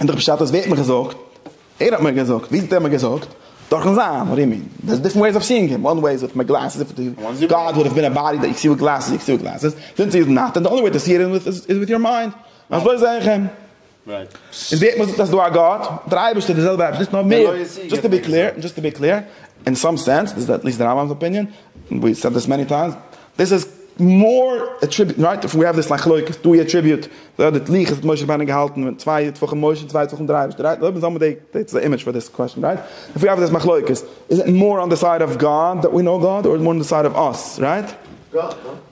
און דער פשט איז ווער האט מיר געזאגט? ער האט מיר געזאגט, ווי האט ער מיר געזאגט? דורכן זיין רימון, דער'ס דיפרענט וועיס אוו סיאינג הים, וואן וועי איז וויט מיט גלעסעס איף די גאד וואלד האב בין א באדי דען איך סי וויט גלעסעס, איך סי וויט גלעסעס, זינס הי איז נאט דען די אנלי וועי טו סי הים איז וויט יור מיינד, אזוי זעה איך אים. און ווער האט מיר געזאגט אז דא א גאט? דער אייבערשטער, די זעלבע אייבערשטער, נישט נאר מער, דזשאסט טו בי קלעיר, דזשאסט טו בי קלעיר, אין סאם סענס, דאס איז עטליסט די רמב ם'ס אפיניען, און ווי סעד דעס מעני טיימס, דאס איז מאר עטריביוט רייט אויף ווי האב דיס מחלוקת דא אי עטריביוט די די לוח האט משה רבינו געהאלטן ווען צוויי טפחים משה און צוויי טפחים די אייבערשטער רייט אויב זעמיר די דעיס איז א אימעדזש פאר דיס קוועשן רייט אויף ווי האב דיס מחלוקת איז איט מאר אן די סייד אוו גאד דעט ווי נאו גאד אר איז מאר די סייד אוו אס רייט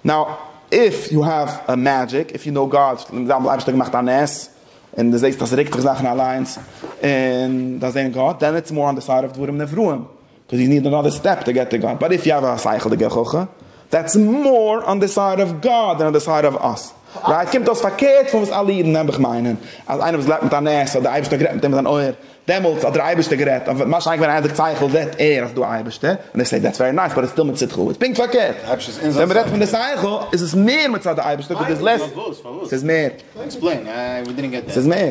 נאו איף יו האב א מעדזשיק איף יו נאו גאד לאמיר זאגן די אייבערשטער האט געמאכט א נס און די זעסט אז ס'רוקט זיך זאכן אליינס און דיין זעהן גאט דען איטס מאר אן די סייד אוו דברים נבראים דאס איז נישט די נאדער סטעפ טו געט טו גאד, באט איף יו האוו א שכל'דיגער חכם, דעטס מאר אן די סייד אוו גאד דען אן די סייד אוו אס. רייט? קומט אויס פארקערט פון וואס אלע אידן נעבעך מיינען, אז איינער וואס גלייבט מיט א נס אז דער אייבערשטער האט גערעדט מיט אים אין זיין אויער, דעמאלטס האט דער אייבערשטער גערעדט, און ווען משה איינקל ווען ער זעט שכל זעט ער אז ס'איז דא א אייבערשטער, און ער זעט דעטס ווערי נייס באט איטס סטיל מצדך, איז פונקט פארקערט, ווען מען רעדט פון די שכל איז עס מער מצד די אייבערשטער, וויל דערס לעס, ס'איז מער. ס'איז מער.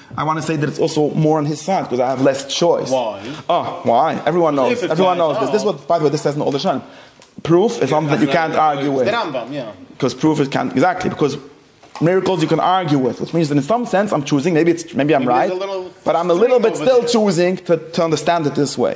איי וואנט טו סעי דעט איטס אלסא מאר אן היס סייד קאוז איי האוו לעס טשויס. וויי? אה, וויי? עוועריוואן נאוס, עוועריוואן נאוס דיס, דיס וואט, ביי די וועי דיס סעז אן אלדער שרייבט, פרוף איז זאמטינג דעט יו קענט ארגיו וויט. די רמב ם, יא. קאוז פרוף איז קענט, עקזעקטלי, ביקאוז מירעקלס יו קען ארגיו וויט, וויטש מיענס דעט אין סאם סענס איים טשוזינג, מעיבי איטס, מעיבי איים רייט, באט איים א ליטעל ביט סטיל טשוזינג טו אנדערסטענד איט דיס וועי.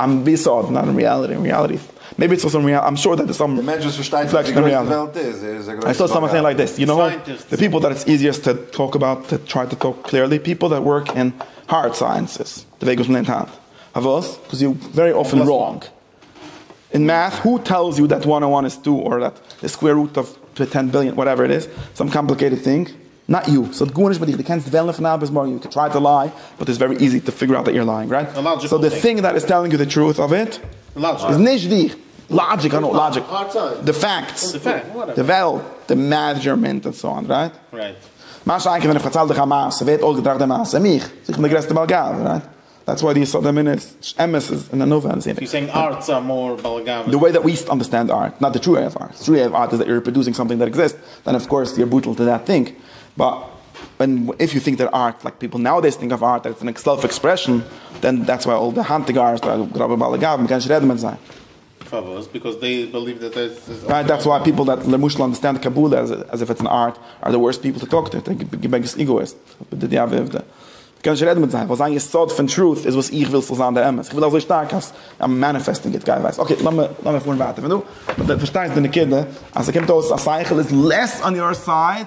איים בי סארט נאט און ריאליטי און ריאליטי מעיבי איטס אלסא איים שאר דעט סאם די מענטש וואס פארשטייט נישט ווי גרויס די וועלט איז איז א גרויסע באגאבענטע די פיפעל דעט איטס איזיעסט טו טאלק אבאוט טו טריי טו טאלק קליערלי פיפעל דעט ווארק אין הארד סייענסעס די וועג וואס מען לערנט היינט פארוואס קאוז יו ווערי אפען ראנג אין מעט הו טעלס יו דעט וואן און וואן איז טו אר דעט די סקווער רוט אוו טען ביליאן וואטעווער איט איז סאם קאמפליקעיטעד טינג נאט יו ס'האט גארנישט מיט דיך די קענסט וועלן פון היינט ביז מארגן יו קען טריי טו ליי באט איטס ווערי איזי טו פיגור אוט דעט יור לייאינג רייט סאו די טינג דעט איז טעללינג יו די טרוט אוו איט איז נישט דיך לאגיק איי נאו לאגיק די פעקטס די וועלט די מעזשערמענט און סאו אן רייט מה שאין כן ווען איך פארצייל דיך א מעשה ווער האט אויסגעטראכט די מעשה? מיך! סאו איך בין די גרעסטע בעל גאווה רייט דעטס וואי די יסוד האמונה איז נישט אמת איז און ענווה און סיני. סאו יו סעינג ארטס אר מאר באלגאווע דען. די וועי דעט ווי אנדערסטענד ארט נאט די טרו וועי אוו ארט. די טרו וועי אוו ארט איז דעט יו ריפראדוסינג סאמטינג דעט עקזיסט דען אוו קאורס יו בטל טו דעט טינג באט ווען איף יו טינק דעט ארט לייק פיפל נאודעיס טינק אוו ארט דעטס ען סעלף עקספרעשאן דען דעטס וואי אל די היינטיגע ארטס זענען גראבע באלעגאווע מ'קען נישט רעדן מיט זיי. פארוואס? ביקאוז דעי בעליוו דעט דעיס איז אויף גאד? דעטס וואי פיפל דעט למשל אנדערסטענד קבלה אז איף איטס אן ארט אר די ווארסט פיפל טו טאלק טו, די ביגעסט איגאאיסט די די אבי עובדא. קען נישט רעדן מיט זיי ווייל זיין יסוד פון טרוט איז וואס איך וויל ס'זאל זיין די אמת. איך וויל אזוי שטארק אז איים מעניפעסטינג איט. גיי ווייס. אקעי לאמיר לאמיר פארן ווייטער פון דא. פארשטייסט די נקודה אז ס'קומט אויס אז שכל איז לעס אן יאר סייד?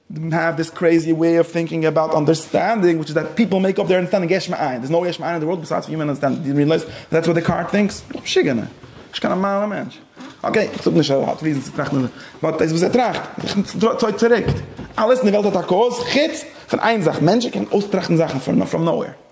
דעם האב דיס קרעיזי וועי אוו טינקינג אבאוט אנדערסטענדינג וויטש איז דעט פיפל מעיק אפ דעיר אנדערסטענדינג יש מאין, דער איז נאו יש מאין אין די ווארלד ביסיידס פון יומען אנדערסטענדינג, דו ריעלייז דעטס וואט דעקארט טינקס? דאך משוגענע. נישט קיין נארמאלע מענטש. אקעי, איך זאג נישט ער האט ריזענס צו טראכטן באט דאס וואס ער טראכט צויגט צוריק. אלעס אין די וועלט האט א קאוז חוץ פון איין זאך מענטשן קענען אויסטראכטן זאכן פראם נאו וועיר.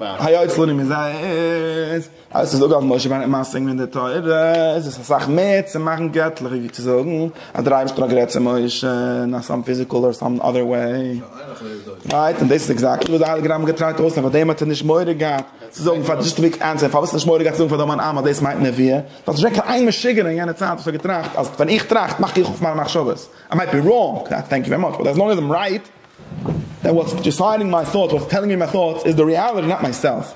היות לנים איז א אות, הייסט עס דא דארף משה רבינו משיג ווערן די תורה, איז עס אסאך מער צו מאכן געטליך ווי צו זאגן אז דער אייבערשטער האט גערעדט צו משה אין סאם פיזיקעל אדער סאם אדער וועי. רייט, און דאס איז עקזעקטלי וואס די הייליגע רמב ם האט געטרייט אויסלערנען, פאר דעם האט ער נישט מורא געהאט צו זאגן, פאר דזשאסט טו ענסער, פארוואס נישט מורא געהאט צו זאגן פאר די המון עם אז דאס מיינט נביאה, ווייל ס'איז נישט געווען קיין איין משוגע'נער אין יענע צייט וואס האט געטראכט אז ווען איך טראכט מאך איך אויף מיינע מחשבות, איי מייט בי ראנג, טענק יו ווערי מאטש, באט עז לאנג עז איים רייט. דען וואטס דיסיידינג מיי טאטס, וואטס טעלינג מי מיי טאטס איז די ריעליטי נאט מיי סעלף.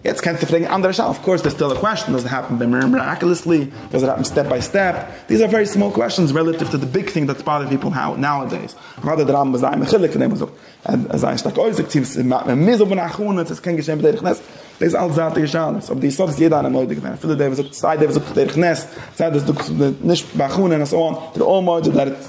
יעצט קענסטו פרעגן אנדערע שאלות, אויף קאורס דעס טעלער קוועסטשען, דאזענט העפען דער מיראקעלעסלי, דאזענט העפען סטעפ ביי סטעפ, דיז אר ווערי סמאל קוועסטשענס רעלאטיוו טו די ביג טינג דעטס באדערינג פיפעל נאו נאודעיס. אוודאי דער רמב ם איז זייער מחולק פון דעם און זאגט אז עס זייער שטארק אויסזאגט צו עס מוז האבען א הכנה צו עס קען געשעהן בדרך נס, דאס איז אלס זייטיגע שאלות, אבער די יסוד איז יעדער איינער מודה געווען, אפילו דער וואס זאגט, סיי דער וואס זאגט בדרך נס, סיי דער וואס זאגט נישט בהכנה און אזוי אן, זענען אלל מודה דעט.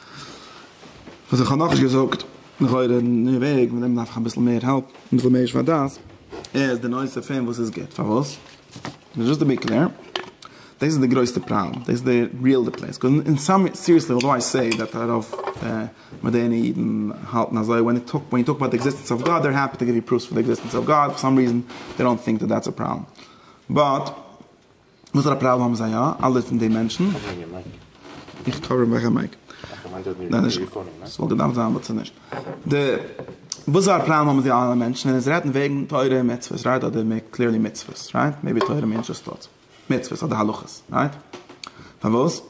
וואס איך האב נאכנישט געזאגט, לכאורה אין די וועג, מיט דעם דארף איך אביסל מער העלפ, אביסל מער שפת דעת, איז די נושא פון וואס איז גוט, פארוואס? דזשאסט טו בי קלער, דאס איז די גרויסטע פראבלעם, דאס איז די ריעל די פלעיס, קוז אין סאם סיריעסלי אוטדאו איי סעי דעט א רוב מאדערנע אידן האלטן אזוי, ווען יו טאלק ווען יו טאלק אבאוט די עקזיסטענס אוו גאד, דער העפי טו גיוו יו פראף'ס פאר די עקזיסטענס אוו גאד, פאר סאם ריזען דעי דאנט טינק דעט דעטס א פראבלעם, באט. וואסערע א פראבלעם האבן זיי יא אלע פון די מענטשן? איך קאווער מיך א מייק. ס'וואלט געדארפט זיין אבער ס'איז נישט דא. וואסערע א פראבלעם האבן זיי אלע מענטשן ווען עס רעדט וועגן תורה און מצוות רייט אדער מער קליערלי מצוות רייט מעיבי תורה מיענס דזשאסט דאס מצוות אדער הלכות רייט פארוואס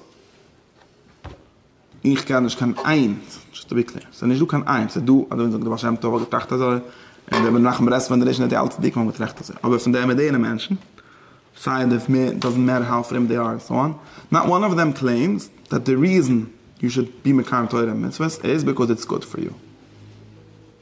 איך קען נישט קיין איין, דזשאסט טו בי קלער, ס'איז נישט דא קיין איין, ס'איז דא אדער ווי מ'זאגט דער בעל שם טוב האט געטראכט אזוי, און דער רבי מנחם ברסלב און ראשון לציון האט אלץ דיקמאל געטראכט אזוי, אבער פון די מאדערנע מענטשן, סיי די דאזענט מעטער האו פרום דעי אר און סאו אן, נאט וואן אף דעם קלעימס דעט די ריזען יו שוד בי מקיים תורה און מצוות איז ביקאוז איטס גוד פאר יו.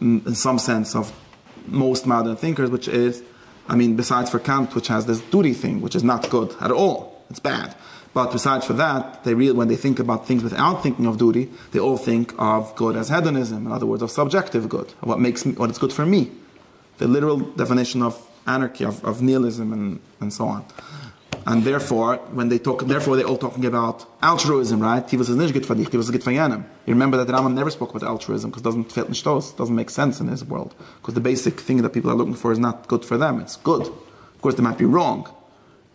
אין סאם סענס אויף מאוסט מאדערן טינקערס וויטש איז איי מין ביסיידס פאר קאנט וויטש העז דיס דוטי טינג וויטש איז נאט גוד עט אלל איטס בעד באט ביסיידס פאר דעט דעי ריעל ווען דעי טינק אבאוט טינגס וויטאוט טינקן אויף דוטי דעי אלל טינק אוו גוד עז העדאניזם אין אדער ווארדס אויף סאבדזשעקטיוו גוד אויף וואט מעיקס מי וואט איטס גוד פאר מי. די ליטערעל דעפינישן אויף אנארקי אויף ניהיליזם און סאו אן אנד דערפאר ווען דעי טאלק דערפאר דעי אלל טאלקינג אבאוט אלטרואיזם רייט טו וואס איז נישט גוט פאר דיך טו וואס איז גוט פאר יענעם יו רימעמבער דעט רמב ם נעווער ספאוק אבאוט אלטרואיזם קאוז דאזענט פעלט נישט אויס דאזענט מעיק סענס אין היז ווארלד קאוז די בעיסיק טינג דעט פיפל אר לוקינג פאר איז נאט גוד פאר דעם איטס גוד אפקאורס דעי מייט בי ראנג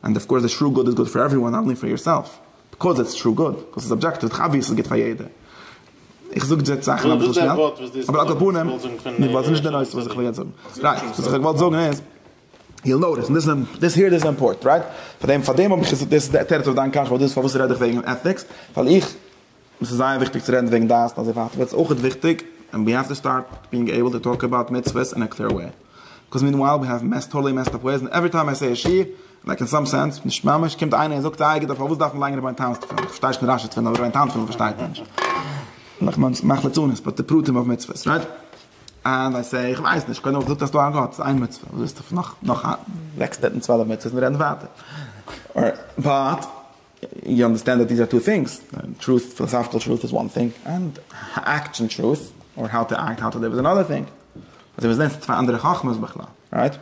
ענד אף קאורס די טרו גוד איז גוד פאר עווריוואן אנלי פאר יורסעלף ביקאוז איטס טרו גוד וואס איז סאבדזשעקטיוו איז דאך אבוויעס ס'איז גוט פאר יעדער איך זאג יעצט זאכן אביסל שנעל אבער על כל פנים די ווארט איז נישט די נושא וואס איך וויל יעצט זאגן רייט וואס איך האב געוואלט זאגן איז יו נאוטיס און דאס היער איז אימפארטענט רייט פארדעם פארדעם האב איך עס דאס איז די תירוץ אויף דיין קשיא וואס דאס איז פארוואס רעד איך וועגן עטיקס ווייל איך עס איז זייער וויכטיג צו רעדן וועגן דעת און אזוי ווייטער וועט עס אויכעט וויכטיג און ווי האב טו סטארט בינג עיבל טו טאלק אבאוט מצוות אין א קלער וועי בקאז מיענווייל ווי האב מעסט טאללי מעסט אפ וועיז און עווערי טיים איי סעי א שיעור לייק אין סאם סענס נישט ממש קומט איינער און זאגט איי גיט אפ פארוואס דארף מען ליינען רבי'ן תן'ס תפילין איך פארשטיי שוין רשי תפילין אבער רבי'ן תן תפילין פארשטייט מען נישט נאך מען מאכט לצנות באט די פרטים אויף מצוות רייט אנד איי סעי איך ווייס נישט קודם האב איך געזאגט אז ס'דא א גאט ס'איז איין מצוה וואס ווילסטו נאך נאך זעקס הונדערט און צוועלף מצוות מיר רעדן ווייטער באט. יו אנדערסטענד דעט דיז אר טו טינגס, טרוט, פילאסאפיקעל טרוט איז וואן טינג, ענד עקטשען טרוט, אר האו טו עקט, האו טו ליוו איז אנאדער טינג. אזוי ווי עס זענען צוויי אנדערע חכמות בכלל. רייט?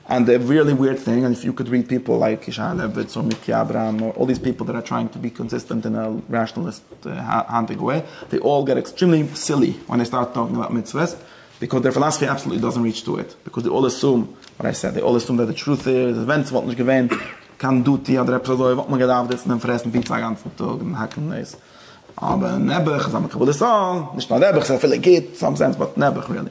ענד די ריעלי וויערד טינג, ענד איף יו קאוד ריעד פיפל לייק ישעי' לעוויץ אר מיקי אברהם אר אלל דיז פיפל דעט אר טרייאינג טו בי קאנסיסטענט אין א רעשאנעליסט היינטיגע וועי, דעי אלל געט עקסטרימלי סילי ווען דעי סטארט טאלקינג אבאוט מצוות, ביקאויז דער פילאסאפי אבסאלוטלי דאזענט ריעטש טו איט, ביקאויז דעי אלל עסום וואט איי סעד, דעי אלל עסום דעט די טרוט איז, ווען ס'וואלט נישט געווען. קיין דוטי אדער עפעס אזוי וואלט מען געדארפט זיצן און פרעסן פיצא א גאנצן טאג און האקן דאס, אבער נעבעך איז א מקבל את העול, נישט נאר נעבעך ס'איז אפילו גוט אין סאם סענס באט נעבעך ריעלי,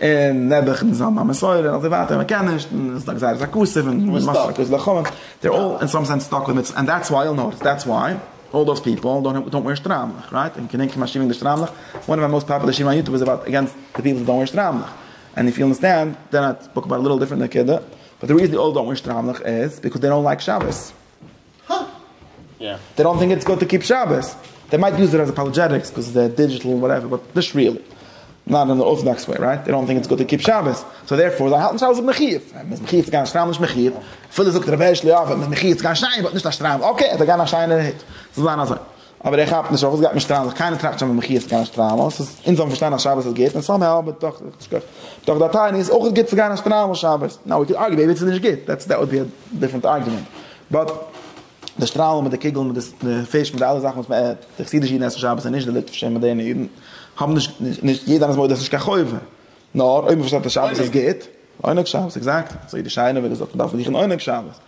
און נעבעך איז נישט א מסורה און אזוי ווייטער מען קען נישט און ס'איז א גזירת הכסף און מען איז סטאק און ס'איז לכאו' דעי אר אלל אין סאם סענס סטאק וויט מצוות ענד דעטס וויי אייל נאוט דעטס וויי אלל דאוס פיפעל דאנט דאנט וויער שטריימלעך רייט און כ'געדענק פון א שיעור וועגן די שטריימלעך וואן אוו מיי מאוסט פאפולער שיעורים אויף יוטוב איז אבאוט אגענסט די פיפעל וואס דאנט וויער שטריימלעך און איף יו אנדערסטענד דען איטס ספאוק אבאוט א ליטעל דיפרענט נקודה. באט די ריזען אלל דאונט וויש טראמלעך איז ביקאוז דעי דאונט לייק שבת. הא? יא. דעי דאונט טינק איטס גוד טו קיפ שבת. דעי מייט יוז איט עז אפאלעדזשעטיקס ביקאוז דעי דידזשיטעל און וואטעווער באט נישט ריעלי. נאט אין די ארטאדאקס וועי רייט? דעי דאונט טינק איטס גוד טו קיפ שבת. סאו דערפאר זיי האלטן שבת איז מחיוב. און מ'איז מחיוב צו גיין א שטריימל נישט מחיוב. אפילו זאגט ר' הערשל יאוועלט מ'איז מחיוב צו גיין שייער באט נישט א שטריימל. אקעי, ער זאל גיין א שייערער הוט. זאל זיין אזוי. אבער ער כאפט נישט אויף וואס גייט מען שטראלן זיך, קיינער טראכט שוין ווען מחי' איז צו גיין שטראלן, אונז האבן פארשטאנען אז שבת איז גוט, און סאם האו בתוך בתוך דער תענית איז אויך גוט צו גיין שטראלן שבת, נאו ווי קען ארגיו איבער צו ס'איז נישט גוט, דעטס דעט וואלט בי א דיפרענט ארגיומענט, באט די שטראלן מיט די קוגלן מיט די פיש מיט די אלע זאכן וואס די חסידישע אידן עסן שבת און נישט די ליטווישע און מאדערנע אידן האבן נישט נישט יעדער איינער איז מודה אז ס'נישט קיין חובה נאר אויב מ'פארשטייט אז שבת איז גוט עונג שבת עקזעקט אזוי די שיינע ווערטער זאגט מען דארף זיכן עונג שבת.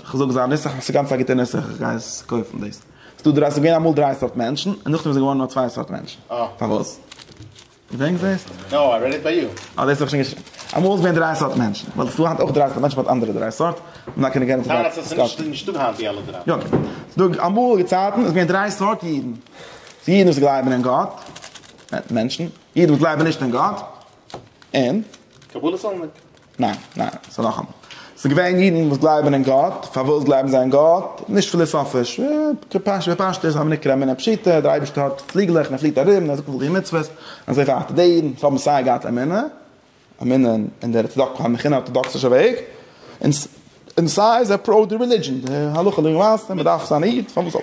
איך זאג זיי נוסח, ס'איז גאנץ א גוטע נוסח, איך גיי עס קויפן דאס. ס'דא דריי, ס'איז געווען אמאל דריי סארט מענטשן, און נאכדעם איז געווארן נאר צוויי סארט מענטשן. פארוואס? געדענקסט דאס? נאו, איי רעד איט ביי יו. אה, דאס האב איך שוין געשריבן. אמאל איז געווען דריי סארט מענטשן, ווייל ס'איז דא היינט אויך דריי סארט מענטשן באט אנדערע דריי סארט, און דאן קען איך גיין אויף די דריי סארט. טאמער ס'נישט דא היינט די אלע דריי. יא, ס'דא אמאליגע צייטן איז געווען דריי סארט אידן. ס'איז אידן וואס גלייבן אין גאט, מענטשן, אידן וואס גלייבן נישט אין גאט, און. קבלה סאנדער. ניין, ניין, ס'איז נאכאמאל. ס'איז געווען אידן וואס גלייבן אין גאט, פארוואס גלייבן זיי אין גאט? נישט פיליסאפיש, בפשטות, אמינא קרא מינא פשיטא, דער אייבערשטער האט פליגלעך און ער פליט ארום און ער זאגט מ'זאל טון מצוות, און אזוי ווייטער. די אידן וואס האבן סיי געהאט אמונה, אמונה אין די ארטאדאקסישע וועג, און סיי זיי פראו די רעלידזשען, די הלכה למעשה, מ'דארף זיין א איד, פארוואס זאל.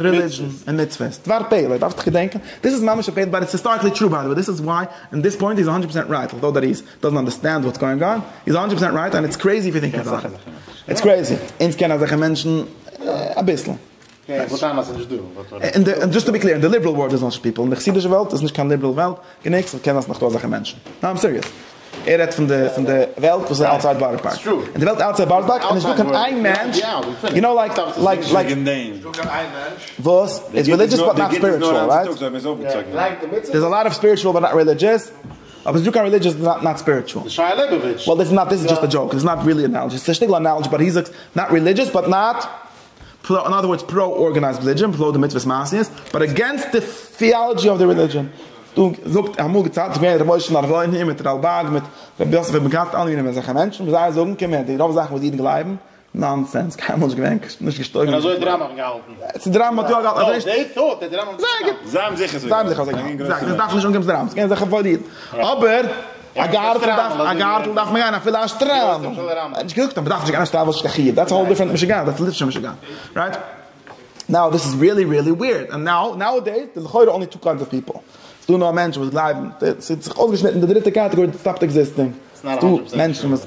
רעלידזשען און מצוות, דבר פלא, דארפסט געדענקען, דיס איז ממש אפענד באט איטס היסטאריקלי טרו ביי די וועי, דיס איז וויי און דיס פוינט איז האנדרעט פארסענט רייט, אלטאו דעט איז דאזענט אנדערסטענד וואטס גאוינג אן, איז האנדרעט פארסענט רייט און איטס קרעיזי ווי דינקען זאכן, איטס קרעיזי, אונז קענען אזעלכע מענטשן אביסל. און דזשאסט טו בי קלעיר, אין די ליבעראל ווארלד איז נאט זשאסט פיפל, אין די חסידישע וועלט איז נישט קיין ליבעראל וועלט, גענוג צו קענען אז ס'נאך דא אזעלכע מענטשן. ניין איים סיריעס. ער רעדט פון די פון די וועלט וואס איז אוטסייד בארא פארק. אין די וועלט אוטסייד בארא פארק איז נישטא קיין איין מענטש יו נאו לייק לייק לייק וואס איז רעלידזשעס באט נאט ספיריטשועל רייט? דער איז א לאט אוו ספיריטשועל באט נאט רעלידזשעס אבער ס'נישטא קיין רעלידזשעס באט נאט ספיריטשועל. וועל דיס איז נאט דיס איז דזשאסט א דזשאוק דיס איז נאט ריעלי ענאלעדזש דיס איז א שטיגל ענאלעדזש באט היז נאט רעלידזשעס באט נאט פרא אין אדער ווארדס פרא ארגענייזד רעלידזשען און פרא די מצוות מעשיות באט אגעינסט די טיאלעדזשי אוו די רעלידזשען דא זאגט אמאל געציילט געווען ר' משה נארוואיניער מיט רלבג מיט ר' יוסף אבן גאט אלע מינים אזעלכע מענטשן וואס זיי זאגן קומען די רוב זאכן וואס אידן גלייבן נאנסענס קיינמאל נישט געווען נישט געשטויגן און אזוי האט די רמב ם געהאלטן צו די רמב ם האט יא געהאלטן אזוי דעי טאט האט די רמב ם געהאלטן זייער גוט זיי האבן זיכער אזוי געהאלטן אבער. א גארטל דארף מען גיין אפילו א שטריימל, ער האט נישט געזאגט אז מען דארף נישט גיין א שטריימל ס'נישט קיין חיוב, דעטס א האול דיפרענט משוגעת, דעטס ליטווישע משוגעת, רייט? נאו דיס איז ריעלי ריעלי וויערד, און נאו נאו עדעיס דער לכאורה אנלי טו קיידס אוו פיפל, ס'דא נאר מענטשן וואס גלייבן, ס'האט זיך אויסגעשניטן די דריטע קאטעגארי דעט סטאפד עקזיסטינג, ס'דא מענטשן וואס.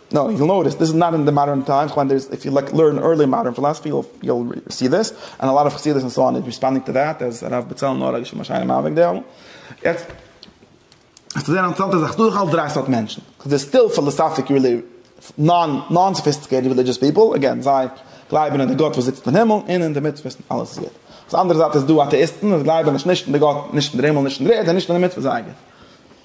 נאו, יו וויל נאוטיס דיס איז נאט אין די מאדערן טיימס, איך מיין דער איז, איף יו לייק לערן ערלי מאדערן פילאזאפי יו וויל סי דיס, ענד א לאט אוו חסידות ענד סאו אן איז ריספאנדינג טו דעט, אז הרב בצלאל נאר האט געשריבן א שיינע מאמר וועגן דעם. יעצט האסטו זייער א אינטערעסאנטע זאך, ס'דא דורכאויס דריי סארט מענטשן, די סטיל פילאזאפיק רילי נאן נאן סאפיסטיקעיטעד רעלידזשעס פיפל, אגעין זיי גלייבן אין די גאט וואס זיצט אין הימל און אין די מצוות און אלעס איז גוט. אויף די אנדערע זייט איז דא אטעאיסטן וואס גלייבן נישט נישט אין די גאט, נישט אין דער הימל, נישט אין דער ערד און נישט אין די מצוות זייגער.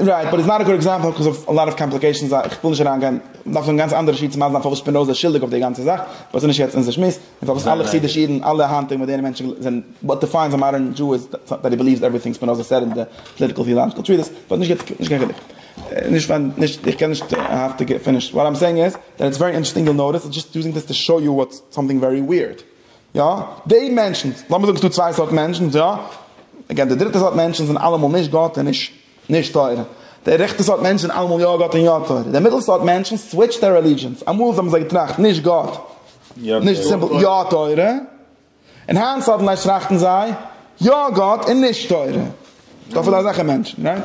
רייט, באט איז נאט א גוד עקזעמפל בקאז אוו א לאט אוו קאמפליקעישאנס, איך וויל נישט אריין גיין, מ'דארף זאגן גאנץ אנדערע שיעור צו ווייזן פארוואס שפינאזע איז שולדיג אויף די גאנצע זאך, באט ס'נישט יעצט אונזער שמועס, און פארוואס אלע חסידישע אידן, אלע היינטיגע מאדערנע מענטשן זענען, וואט דיפיינס א מאדערן דזשו איז דעט הי בעליווס עוועריטינג ספינאזע סעד אין די פאליטיקעל טיאלאגישעל טריטיס, באט נישט יעצט, נישט קיין חילוק, נישט ווייל נישט, איך קען נישט האפטיגע, פיניש, וואט איים סעיאינג איז, דעט איטס ווערי אינטערעסטינג יאל נאטיס, איים דזשאסט יוזינג דיס טו שאוי יו וואטס סאמטינג ווערי וויערד. יא, די מענטשן, לאמיר זאגן ס'איז דא צוויי סארט מענטשן, יא, אגעין די דריטע סארט מענטשן זענען אלעמאל נישט גאט און נישט נישט תורה, די רעכטע סארט מענטשן זענען אלעמאל יא גאט און יא תורה, די מיטל סארט מענטשן סוויטש זייער רעלידזשענס, אמאל האבן זיי געטראכט נישט גאט, נישט סימפל, יא תורה, און היינט סאדענליי טראכטן זיי יא גאט און נישט תורה, ס'דא אפי' אזעלכע מענטשן, רייט?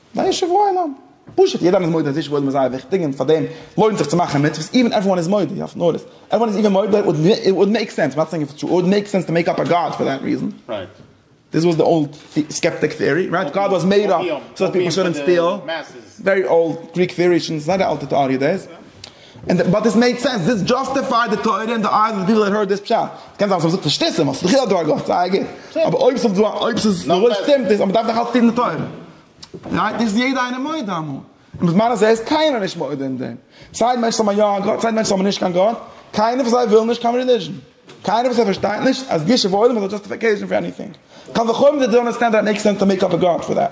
זיי נישט שבועיים, פשוט יעדער איז מודה אז די שבועיים איז זייער וויכטיג און פארדעם לוינט זיך צו מאכן מצוות איווען עוועריוואן איז מודה, איך האף נאר אז עוועריוואן איז איווען מודה, איט וואלד מעיק סענס, נאט סעינג איף איט וואלד מעיק סענס טו מעיק אפ א גאד פאר דעט ריזען, דיס וואס די אולד סקעפטיק טעארי רייט, גאד וואס מעיד אפ סארט פיפעל שונען סטיל, ווערי אולד גריק טעארי שוין זייער א אלטע טעארי דעיס. און באט דיס מעיד סענס, דיס דזשאסטיפייד די תורה אין די אייז אוו די פיפל דעט הערד דיס פשט, עס קען זיין אז איך האב געזאגט פארשטוסן ווייל ס'איז דאך יא דא א גאט, זייער גוט, אבער אויב ס'איז דא אויב ס'איז לויט שטימט עס, אבער מ'דארף דאך אלץ טון די תורה, רייט? דאס איז יעדער איינער מודה אמאל, און בזמן הזה איז קיינער נישט מודה אין דעם, סיי די מענטשן האבן יא א גאט סיי די מענטשן האבן נישט קיין גאט, קיינער פון זיי וויל נישט קיין רעליזשן, קיינער פון זיי פארשטייט נישט אז גישור ועולם איז א דזשאסטיפיקעישן פאר עניטינג, קל וחומר זיי דאנט אנדערסטענד דעט איט מעיקס סענס טו מעיק אפ א גאט פאר דעט.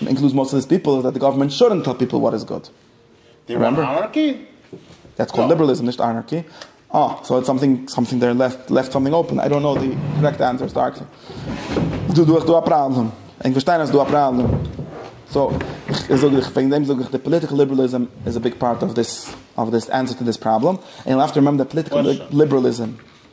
און אינקלוז מאסט אוו דיס פיפל איז דעט די גאווערמענט שודענט טעל פיפל וואט איז גוד. די וואנט אנארקי? דעטס קאלד ליבערליזם נישט אנארקי. אה, סאו איטס סאמטינג סאמטינג דער לעפט לעפט סאמטינג אפען. איי דאנט קנאו די קרעקט ענסער צו ארקי. דא דא איז דא א פראבלעם. ענק פארשטיין אז ס'איז דא א פראבלעם. סאו איך זאג איך וועגן דעם זאג איך די פאליטיקעל ליבערליזם איז א ביג פארט אוו דיס אוו דיס ענסער טו דיס פראבלעם. און יו האוו טו רימעמבער דעט פאליטיקעל ליבערליזם.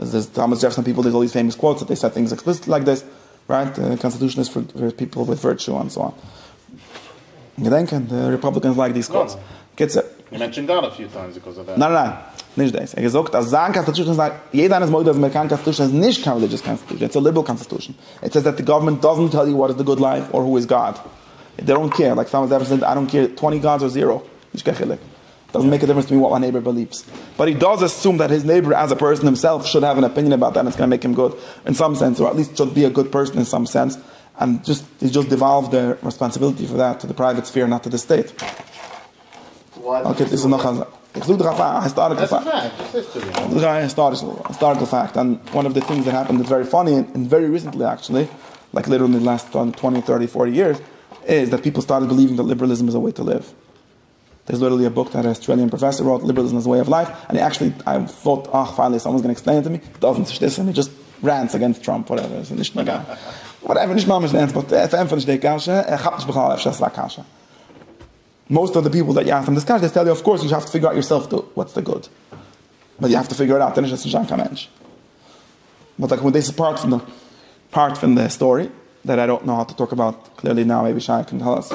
איז דאס טאמעס דזשעפסאן פיפעל דיס אלל דיס פעימאס קוואוטס דעי סעט טינגס עקספליסיטלי לייק דיס רייט די קאנסטיטושען איז פאר פיפעל וויט ווירטשו אנד סאו אן געדענקען די ריפאבליקענס לייק דיס קוואוטס קיצער ניין ניין ניין נישט דעיס ער האט געזאגט אז זיין קאנסטיטושען איז א יעדער איינער איז מודה אז די אמעריקאנע קאנסטיטושען איז נישט קיין רעלידזשעס קאנסטיטושען איטס א ליבעראל קאנסטיטושען איט סעיס דעט די גאווערמענט דאזענט טעל יו וואט איז די גוד לייף אר הו איז גאד דעי דאנט קעיר לייק סתם אזעלכע זענען איי דאנט קעיר טווענטי גאדס אר זיראו נישט קיין חילוק. דאזענט מעיק א דיפרענס טו מי וואט מיי נעיבאר ביליווס באט הי דאז אססום דעט היז נעיבאר עז א פערסאן הימסעלף שוד העוו ען אפיניען אבאוט דעט און איטס גאנא מעיק הים גוד אין סאם סענס אר עטליעסט שוד בי א גוד פערסאן אין סאם סענס ענד דזשאסט איז דזשאסט דיוואלוו דער רעספאנסיביליטי פאר דעט טו דע פרייוועט ספעיר נאט טו דע סטעיט אקעי דאס איז נאך א זאך איך זאג דאך א היסטאריקל פאקט איך זאג א היסטאריקל פאקט אנד וואן אוו דע טינגס דעט העפענד איטס ווערי פאני און ווערי ריסענטלי עקטשעלי לייק ליטערלי אין די לעסט טווענטי טערטי פארטי יערס איז דעט פיפל סטארטעד ביליווינג דעט ליבערליזם איז א וועי טו ליוו. דעיס ליטערלי א בוק דעט א אסטרעליען פראפעסער ראוט, ליבערליזם איז א וועי אוו לייף, עני עקשעלי איי וואלט אויך פיינעלי סאמאנס גענעקסט פלעין טו מי, איט דאזענט נישט איסער מי דזשאסט רענטס אגענסט טראמפ וואטעווער עס איז נישט נוגע וואטעווער נישט ממש רענטס באט ער פארענטפערט נישט די קשיא ער כאפט נישט בכלל אפשר עס איז א קשיא מאוסט אוו די פיפעל דעט יו אסק דעם דיס קשיא דעי טעל יו אוו קאורס יו האוו טו פיגער אוט יור סעלף טו וואטס די גוד באט יו האוו טו פיגער איט אוט ער נישט עס נישט זיין קיין מענטש באט אגען דעיס איז פארט פון די פארט פון די סטארי דעט איי דאנט נאו האו טו טאלק אבאוט קליערלי נאו מעיבי שי קען טעל אס.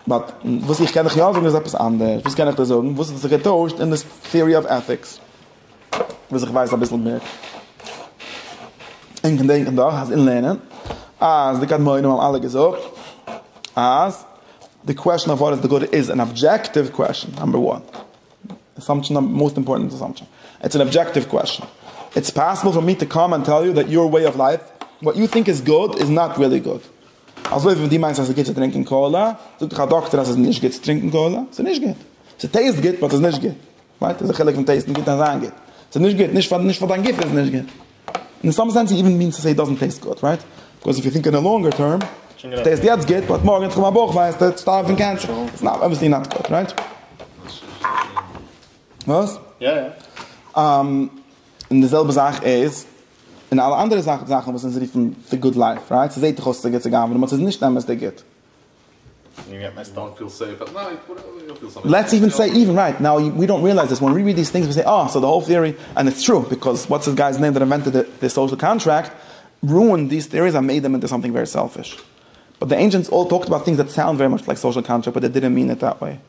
באט וואס איך קען דיך יא זאגן איז עפעס אנדערש, וואס קען איך דיר זאגן וואס האט זיך געטוישט אין די טיערי אוו עטיקס וואס איך ווייס אביסל מער, און געדענקן דאך אז אין לערנען אז די קדמונים האבן אלע געזאגט אז די קוועשאן אויף וואט איז די גוד איז אן אבדזשעקטיוו קוועשאן, נאמבער וואן אסאמפשאן, נאמבער מאסט אימפארטענט אסאמפשאן, איטס אן אבדזשעקטיוו קוועשאן, איטס פאסיבל פאר מי טו קאם ענד טעל יו דעט יור וועי אוו לייף וואט יו טינק איז גוד איז נאט ריעלי גוד. אזוי ווי ווען דו מיינסט אז ס'איז גוט צו טרינקען קאלא, זאגט דיך א דאקטער אז ס'איז נישט גוט צו טרינקען קאלא, ס'איז נישט גוט. ס'טעיסט גוט באט ס'איז נישט גוט. רייט? ס'איז א חילוק פון טעיסטן גוט און זיין גוט. ס'איז נישט גוט, נישט פאר נישט פאר דיין גוף איז עס נישט גוט. און אין סאם סענס איט איווען מינס טו סעי איט דאזענט טעיסט גוט, רייט? ביקאוז איף יו טינק אין די לאנגער טערם, ס'טעיסט יעצט גוט באט מארגן וועט איך האבן א בויך וויי, וועסטו שטארבן פון קענסער. איטס נאט אבוויעסלי נאט גוט, רייט? וואס? יא יא. און די זעלבע זאך איז און אלע אנדערע זאכן זאכן וואס אונז רופן די גוד לייף רייט ס'זעהט דאך אויס ס'איז א גוטע גאווערנמענט באט ס'איז נישט אמת די גוט. לעטס איווען סעי איווען רייט נאו ווי דאנט ריעלייז דיס ווען ווי ריעד דיס טינגס ווי סעי אה סאו די האול טעארי ענד איטס טרו ביקאוז וואטס דיס גיי'ס נעים דער אינווענטעד די סאושעל קאנטראקט רואינד דיס טעאריס ענד מעיד דעם אינטו סאמטינג ווערי סעלפיש באט די ענשענטס אלל טאלקד אבאוט טינגס דעט סאונד ווערי מאטש לייק סאושעל קאנטראקט באט דעי דידענט מין איט דעט וועי.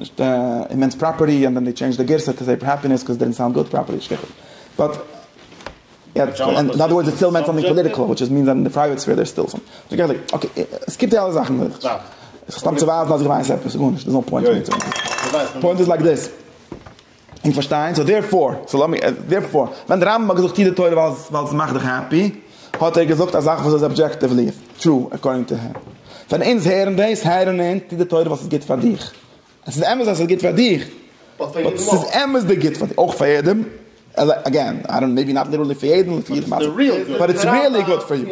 נישט אימענס פראפערטי און ווען די טשעינדזש די גירסא טו סעיפ העפינעס קאוז דידנט סאונד גוד פראפערטי שכח באט יעצט און אנאדער ווארדס איטס סטיל מענטעלי פאליטיקעל וויטש איז מינס אז אין די פרייוועט ספעיר דער סטיל סאם אקעי סקיפ די אלע זאכן סתם צו ווייזן אז איך ווייס עפעס איז גארנישט דערס נאו פוינט פוינט איז לייק דיס. אונז פארשטייען, סאו דערפאר, סאו לאמיר, דערפאר, ווען דער רמב ם האט געזאגט טו די תורה ווייל עס מאכט דיך העפי, האט ער געזאגט א זאך וואס איז אבדזשעקטיוולי טרו עקארדינג טו הים. ווען אונז הערן דאס, הערן אונז טו די תורה ווייל עס איז גוט פאר דיך. עס איז אמת אז עס איז גוט פאר דיך, באט עס איז אמת די גוט פאר דיך, אויך פאר יעדעם, אגעין, איי דאנט, מעיבי נאט ליטערלי פאר יעדעם, באט עס איז ריעלי גוט פאר יו.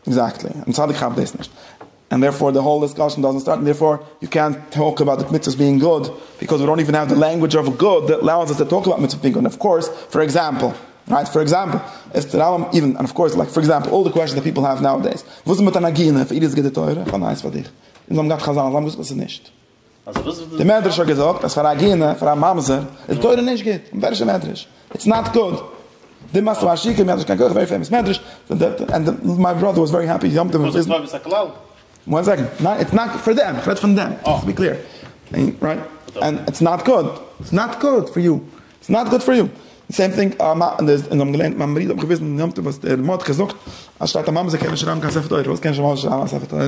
עקזעקטלי, און צדיק כאפט דאס נישט. ענד דערפאר די האול דיסקאשען דאזענט סטארט ענד דערפאר יו קענט טאלק אבאוט די מצוות בינג גוד ביקאוז ווי דאנט איווען העוו די לענגווידזש אוו גוד דעט אלאוס אס טו טאלק אבאוט מצוות בינג גוד און אפקאורס פאר עקזעמפל רייט פאר עקזעמפל עס טוט אריין און און אפקאורס לייק פאר עקזעמפל אלל די קוועשאנס דעט פיפל העוו נאו דעיס וואס איז מיט א נגינה פאר איר איז גוט די תורה? כ'האב נייעס פאר דיך אונז האבן געהאט חזנות זיי האבן געוואוסט וואס ס'איז נישט. די מדרש האט געזאגט אז פאר א עגינה פאר א ממזר איז תורה נישט גוט, און ווער איז די מדרש? איטס נאט גוד. די מאכסט פאר א שיכור מי האט נישט קיין כח ווערי פעימאס מדרש ענד מיי בראדער וואס ווערי העפי יום טוב וויזניץ. וואס איז טובת הכלל? וואן סעקענד, ניין איטס נאט פאר דעם, כ'רעד פון דעם, טו בי קליר, רייט, ענד איטס נאט גוד, איטס נאט גוד פאר יו, איטס נאט גוד פאר יו, די סעים טינג א מ ד און האבן געלערנט מיין ברידער האט מיך געוויזן יום טוב וואס דער מ ד זאגט אז שטייט א ממזר קען נישט שרייבן קיין ספר תורה, וואס קען נישט א ממזר שרייבן א ספר תורה?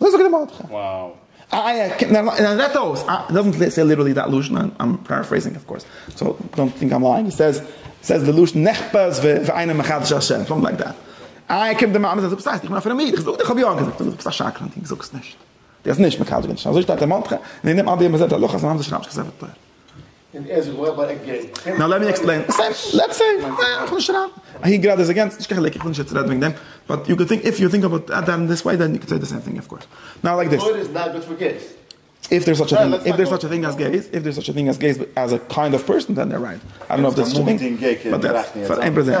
אזוי זאגט דער מרדכי. וואו. איי איי קען נאר נאר רעדט אויס אה איט דאזענט סעי ליטערלי דעט לשון איי עם פאראפרעיזינג אויף קאורס סאו דאנט טינק איים לייאינג איט סעיז סעיז די לשון נחפז ואינו מחדש השם סאמטינג לייק דעט איי קומט די מאמע זאגט וואס הייסט איך בין א פרעמיד איך זאג דיר איך האב יא געזאגט דו ביסט א שקרן דו זאגסט נישט דו האסט נישט מקדש געווען אזוי שטייט דער מרדכי און אין דעם אדער יענעם זעט ער הלכות און אנדערע שרייבן זיך ספר תורה. נאו לעט מי עקספלעין, לעטס סעי, איך וויל נישט רייטן אהין גראדע איז אגענס, נישט קיין חילוק, איך וויל נישט יעצט רעדן וועגן דעם, באט יו קען טינק, איף יו טינק אבאוט איט אין דיס וועי דען יו קען סעי די סעים טינג אויף קאורס, נאו לייק דיס, איף דער איז סאטש א טינג, איף דער איז סאטש א טינג אז געיס, איף דער איז סאטש א טינג אז געיס אז א קיינד אוו פערסאן דען דער רייט, איי דאנט נאו איף דעיס סאטש א טינג, באט דעטס פאר איין פראבלעם.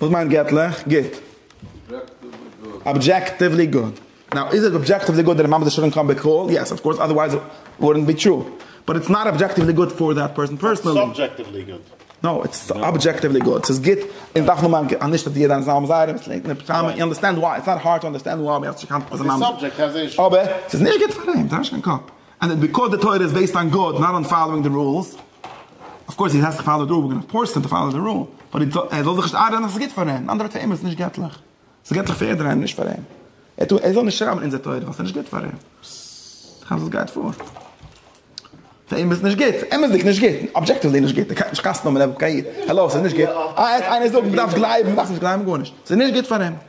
וואס מיינט געטליך גוט? אבדזשעקטיוולי גוד. נאו, איז עס אבדזשעקטיוולי גוד דער מאמענט עס שולן קיין בעקראל? יעס אוו קאורס אדערווייז איט וואלדנט בי טרו. באט איטס נאט אבדזשעקטיוולי גוד פאר דעט פערסאן פערסאנעלי. סאיז סאבדזשעקטיוולי גוד. נאו, איטס אבדזשעקטיוולי גוד. סאיז גוט און דארף נאר מיין נישט אז יעדע איינס האבן זייערע וואס לענגט און פשעמען און אנדערסטענד וויי. איטס נאט הארד טו אנדערסטענד וויי. אבער סאיז נישט גוט פאר אים. זיי האבן נישט קיין קאפ. און די ביקורת התורה איז בעיסד אן גאד נאט אן פאלאווינג די רולס, אויף קאורס הי העז טו פאלאו די רול, וויר גאנא פארס הים טו פאלאו די רול, באט ער זאל זיך נישט איינרעדן אז ס'איז גוט פאר אים, אין אנדערע טערמס ס'איז נישט געטליך, ס'איז געטליך פאר יעדער איינער נישט פאר אים, ער זאל נישט שרייבן אין אונזער תורה ווייל ס'איז נישט גוט פאר אים, איך מיין וואס גייט פאר, פאר אים איז נישט גוט, אמת'דיג נישט גוט, אבדזשעקטיוולי נישט גוט, ער קען נישט קאסטן נאמען ער וועט גיין, האלא ס'איז נישט גוט, אה עס איינער זאגט מ'דארף גלייבן, מ'דארף נישט גלייבן גארנישט, ס'איז נישט גוט פאר אים.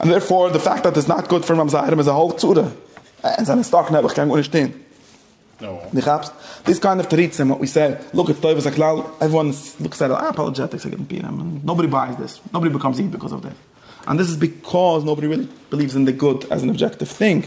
און דערפאר די פאקט אז עס נאט גוד פאר ממזרים איז א הויך צרה, עס זענען סטאק און אויב איך קען גארנישט טון. דו כאפסט? דיס קיינד אוו תירוצים וואט ווי סעד, לוק איטס טובת הכלל, עוועריוואן לוקס עט איט, אה אפאלעדזשעטיקס איז גוט אין פירעם, נאובאדי בייס דיס, נאובאדי ביקאמס איוויל ביקאוז אוו דיס, אנד דיס איז ביקאוז נאובאדי ריעלי בעליווס אין די גוד עז אן אבדזשעקטיוו טינג.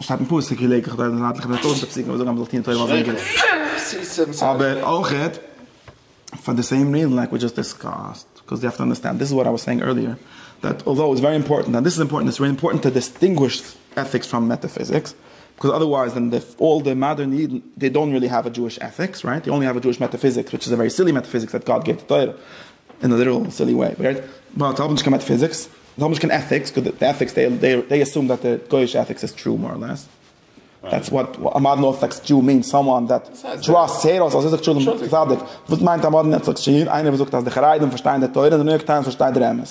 שטייט אין פסוק כי לקח תורה מזיון אתלך מ'וועט אויך די פסוקים וואס זאגן אז מ'זאל טוען תורה אויף זיין גוף אבער אויכעט פאר די סעים ריזען לייק ווי דזשאסט דיסקאסט בקאוז יו האוו טו אנדערסטענד דיס איז וואט איי וואס סעאינג ערליער דעט אלדאו איטס ווערי אימפארטענט אנד דיס איז אימפארטענט איטס ווערי אימפארטענט טו דיסטינגוויש עטיקס פראם מעטאפיזיקס בקאוז אדערווייז דען די אלל די מאדערן אידן דעי דאנט ריעלי האוו א דזשואיש עטיקס רייט דעי אנלי האוו א דזשואיש מעטאפיזיקס וויטש איז א ווערי סילי מעטאפיזיקס דעט גאד געט די תורה אין א ליטערעל סילי וועי רייט באט האבן נישט קיין מעטאפיזיקס. זיי האבן נישט קיין עטיקס, קויז די עטיקס דעי עסום דעט די גויאישע עטיקס איז טרו מאר לעס, דעטס וואט א מאדערן ארטאדאקס דשאו מיענס, סאמאן דעט טראסטס היראוס אז ער זאגט שלום צדיק, וואס מיינט א מאדערן ארטאדאקס דשאו? איינער וואס זאגט אז די חרדים פארשטייען די תורה און די ניו יארק טיימס פארשטייט דער אמת.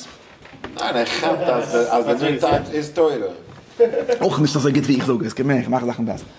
ניין ער כאפט אז די ניו יארק טיימס איז תורה. אויך נישט אזוי גוט ווי איך זאג עס, קען מער איך מאך זאכן בעסער.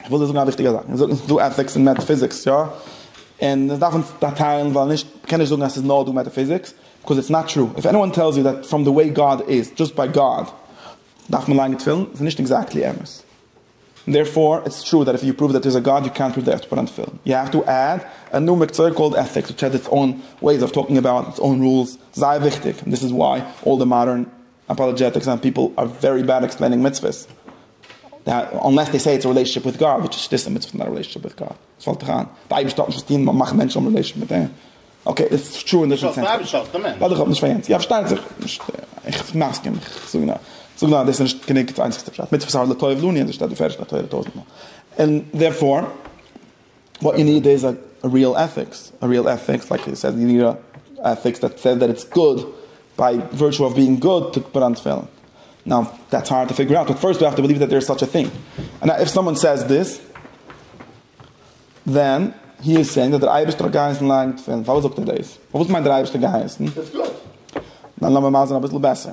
איך וויל דיר זאגן א וויכטיגע זאך, מען זאגט נישט ס'איז דא עטיקס און מעטאפיזיקס, יא? און עס דארף אונז טיילן ווייל נישט, מען קען נישט זאגן אז ס'איז נאר דא מעטאפיזיקס, ביקאז איטס נאט טרו, איף עניוואן טעלס יו דעט פראם די וועי גאד איז, דזשאסט ביי גאד דארף מען ליינען תפילין, איז נישט עקזעקטלי אמת. און דערפאר איטס טרו דעט איף יו פראוו דעט דער'ס א גאד יו קענט פראוו דעט יו האסט צו פוט אן תפילין. יו העוו טו עד א ניו מקצוע קאלד עטיקס וויטש העז איטס אוין וועיס אוו טאלקינג אבאוט איטס אוין רולס, זייער וויכטיג, און דאס איז וויי אלל די מאדערן אפאלעדזשעטיקס אנד פיפל אר ווערי בעד עקספלעינינג מצוות, אנלעס דעי סעי איטס א רילעישאנשיפ וויט גאד, וויטש איז דיס א מצוה פון א רילעישאנשיפ וויט גאד? וואס פאלט דיך איין? די אייבערשטער האט נישט וואס טוהן מיט מאכן מענטשן האבן רילעישאנשיפ מיט אים? אקעי דעטס טרו אין דיפרענט סענס. ווייל איך האב נישט פאר יענץ. יא פארשטייט זיך. איך מסכים. איך זאג נאר. זאג נאר דאס איז נישט גענוג די איינציגסטע פשט. מצוות אר לטוב לנו און דאס שטייט בפרש אין התורה טויזענט מאל. און דערפאר. וואט יו ניד איז א ריעל עטיקס, א ריעל עטיקס לייקס יו סעד, יו ניד א עטיקס דעט סעד דעט איטס גוד ביי ווירטשו אוו בינג גוד טו פראנט פעלן. נאו, דעטס הארד טו פיגער אוט, באט פירסט יו האוו טו בעליוו דעט דער איז סאטש א טינג. און איף סאמאן סעיס דיס, דען הי איז סעינג דעט דער אייבערשטער האט געהייסן לייגן תפילין. פארוואס זאגט ער דאס? פארוואס מיינט דער אייבערשטער געהייסן? נאו לאמיר מאזן אביסל בעסער.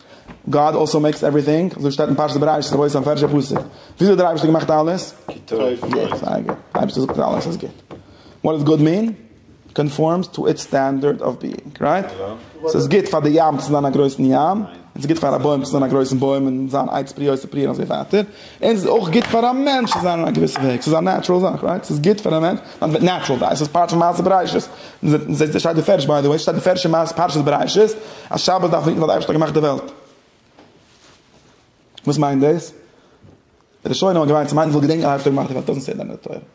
גאד אלסאו מעיקס עווריטינג, אזוי שטייט אין פרשת בראשית רבותי א פערשע פסוק, וויאזוי האט דער אייבערשטער געמאכט אלעס? גוט, זייער גוט, דער אייבערשטער זאגט אז אלעס איז גוט, וואט דאס גוט מין? קאנפארמס טו איטס סטענדערד אוו ביאינג, רייט? ס'איז גוט פאר די ים צו זיין א גרויסן ים, און ס'איז גוט פאר א בוים צו זיין א גרויסן בוים און זיין עצי פרי יוסי פרי און אזוי ווייטער. און ס'איז אויך גוט פאר א מענטש צו זיין אין א געוויסע וועג, ס'איז א נעטשרעל זאך, רייט? ס'איז גוט פאר א מענטש, אז מ'וועט נעטשרעל זיין, ס'איז פארט פון מעשה בראשית, זעהסט עס שטייט אין פערש ביי די וועי, שטייט אין פערש אין מעשה פרשת בראשית, אז שבת דארף מען היטן ווייל די אייבערשטער האט געמאכט די וועלט. וואס מיינט דאס? די ראשונים האבן געמיינט צו מיינען זאל געדענקען אז די אייבערשטער האט געמאכט די וועלט, דאזענט סעי דעט אין די תורה.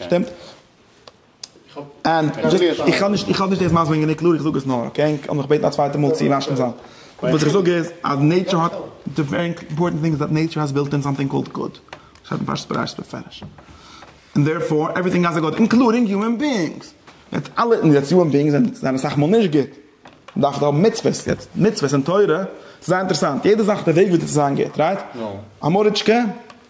שטימט? און איך האב נישט איך האב נישט דאס מסביר גענוג קלאר איך זאג עס נאר אקעי האב מיך געבעטן א צווייטע מאל צו משלים זיין וואס איך זאג איז אז נעטשור האט די ווערי אימפארטענט טינג איז דעט נעטשור האס בילט אין סאמטינג קאלד גאד שטייט אין פרשת בראשית בפירוש און דערפאר עווריטינג האס א גאד אינקלודינג יומען ביאינגס יעצט אלע און יעצט יומען ביאינגס זענען אסאך מאל נישט גוט מען דארף האבן מצוות יעצט מצוות און תורה ס'איז זייער אינטערעסאנט יעדע זאך די וועג ווי דאס איז זיין גוט רייט? א מאריטשקע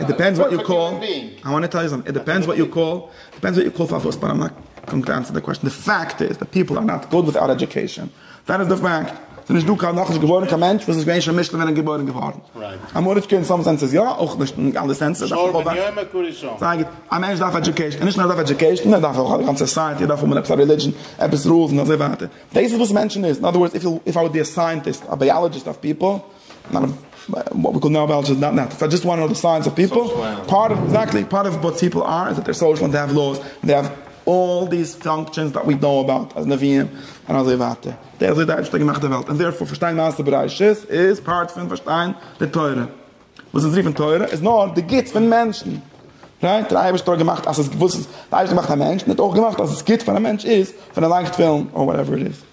איט דיפענדס וואט יו קאל, איי וואנט טו טעל יו סאמטינג, איט דיפענדס וואט יו קאל, דיפענדס וואט יו קאל פארוואס באט איים נאט גאינג טו ענסער די קוועשאן, די פאקט איז דעט פיפל אר נאט גוד וויטאוט עדיוקעישאן, דעט איז די פאקט, סאיז נישט דא קיין נאכנישט געבוירן קיין מענטש וואס איז געווען שוין משלים ווען ער איז געבוירן געווארן, אמעריקע אין סאם סענסעס יא, אויך נישט אין אלע סענסעס, זייער גוט, א מענטש דארף עדיוקעישאן, און נישט נאר ער דארף עדיוקעישאן, ער דארף אויך א גאנצע סאסייעטי, ער דארף האבן עפעס א רעלידזשען, עפעס רולס און אזוי ווייטער, דאס איז וואס מענטשן איז, אין אדער ווארדס, איף איי וואלד בי א סייענטיסט, א בייאלאגיסט אויף פיפל. נאט א וואט ווי קאלד נאו בעלטש איז נאט נאט איטס דזשאסט וואן אוו די סיינס אוו פיפל פארט אוו עקזעקטלי פארט אוו וואט פיפל אר איז דעט דעי אר סאושעל דעי האוו לאוס דעי האוו אלל דיס פאנקשענס דעט ווי נאו אבאוט אז נביאים און אזוי ווייטער דעי אזוי די אייבערשטער האט געמאכט די וועלט און דערפאר פארשטיין מעשה בראשית איז פארט פון פארשטיין די תורה וואס אונז רופן תורה איז נאר די גוטס פון מענטשן ריין דער אייבערשטער האט געמאכט אז עס געוואוסט אז דער אייבערשטער מאכט א מענטש און האט אויך געמאכט אז עס גוט פאר א מענטש איז פון אליינס טפילן אר וואטעווער איט איז.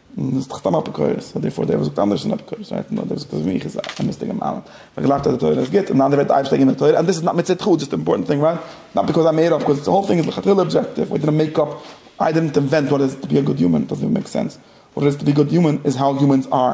און דאס איז דאך סתם אפיקורס, און דערפאר דער וואס זאגט אנדערש איז אן אפיקורס, רייט? נאר דער וואס זאגט אז מיך איז א אמת'דיגע מעלה, ווייל איך גלייב אז די תורה איז גוט, און די אנדערע ווערט אייביג שטערקער מיט די תורה, און דאס איז נאט מצד חו, דזשאסט אימפארטענט טינג, רייט? נאט ביקאוז איים מער אויף, ביקאוז די האול טינג איז לכתחילה אבזשעקטיוו, ווי די מעיקאפ, איי דידנט אינווענט וואט איט איז טו בי א גוד יומען, איט דאזנט איווען מעיק סענס, וואט איט איז טו בי א גוד יומען איז האו יומענס אר.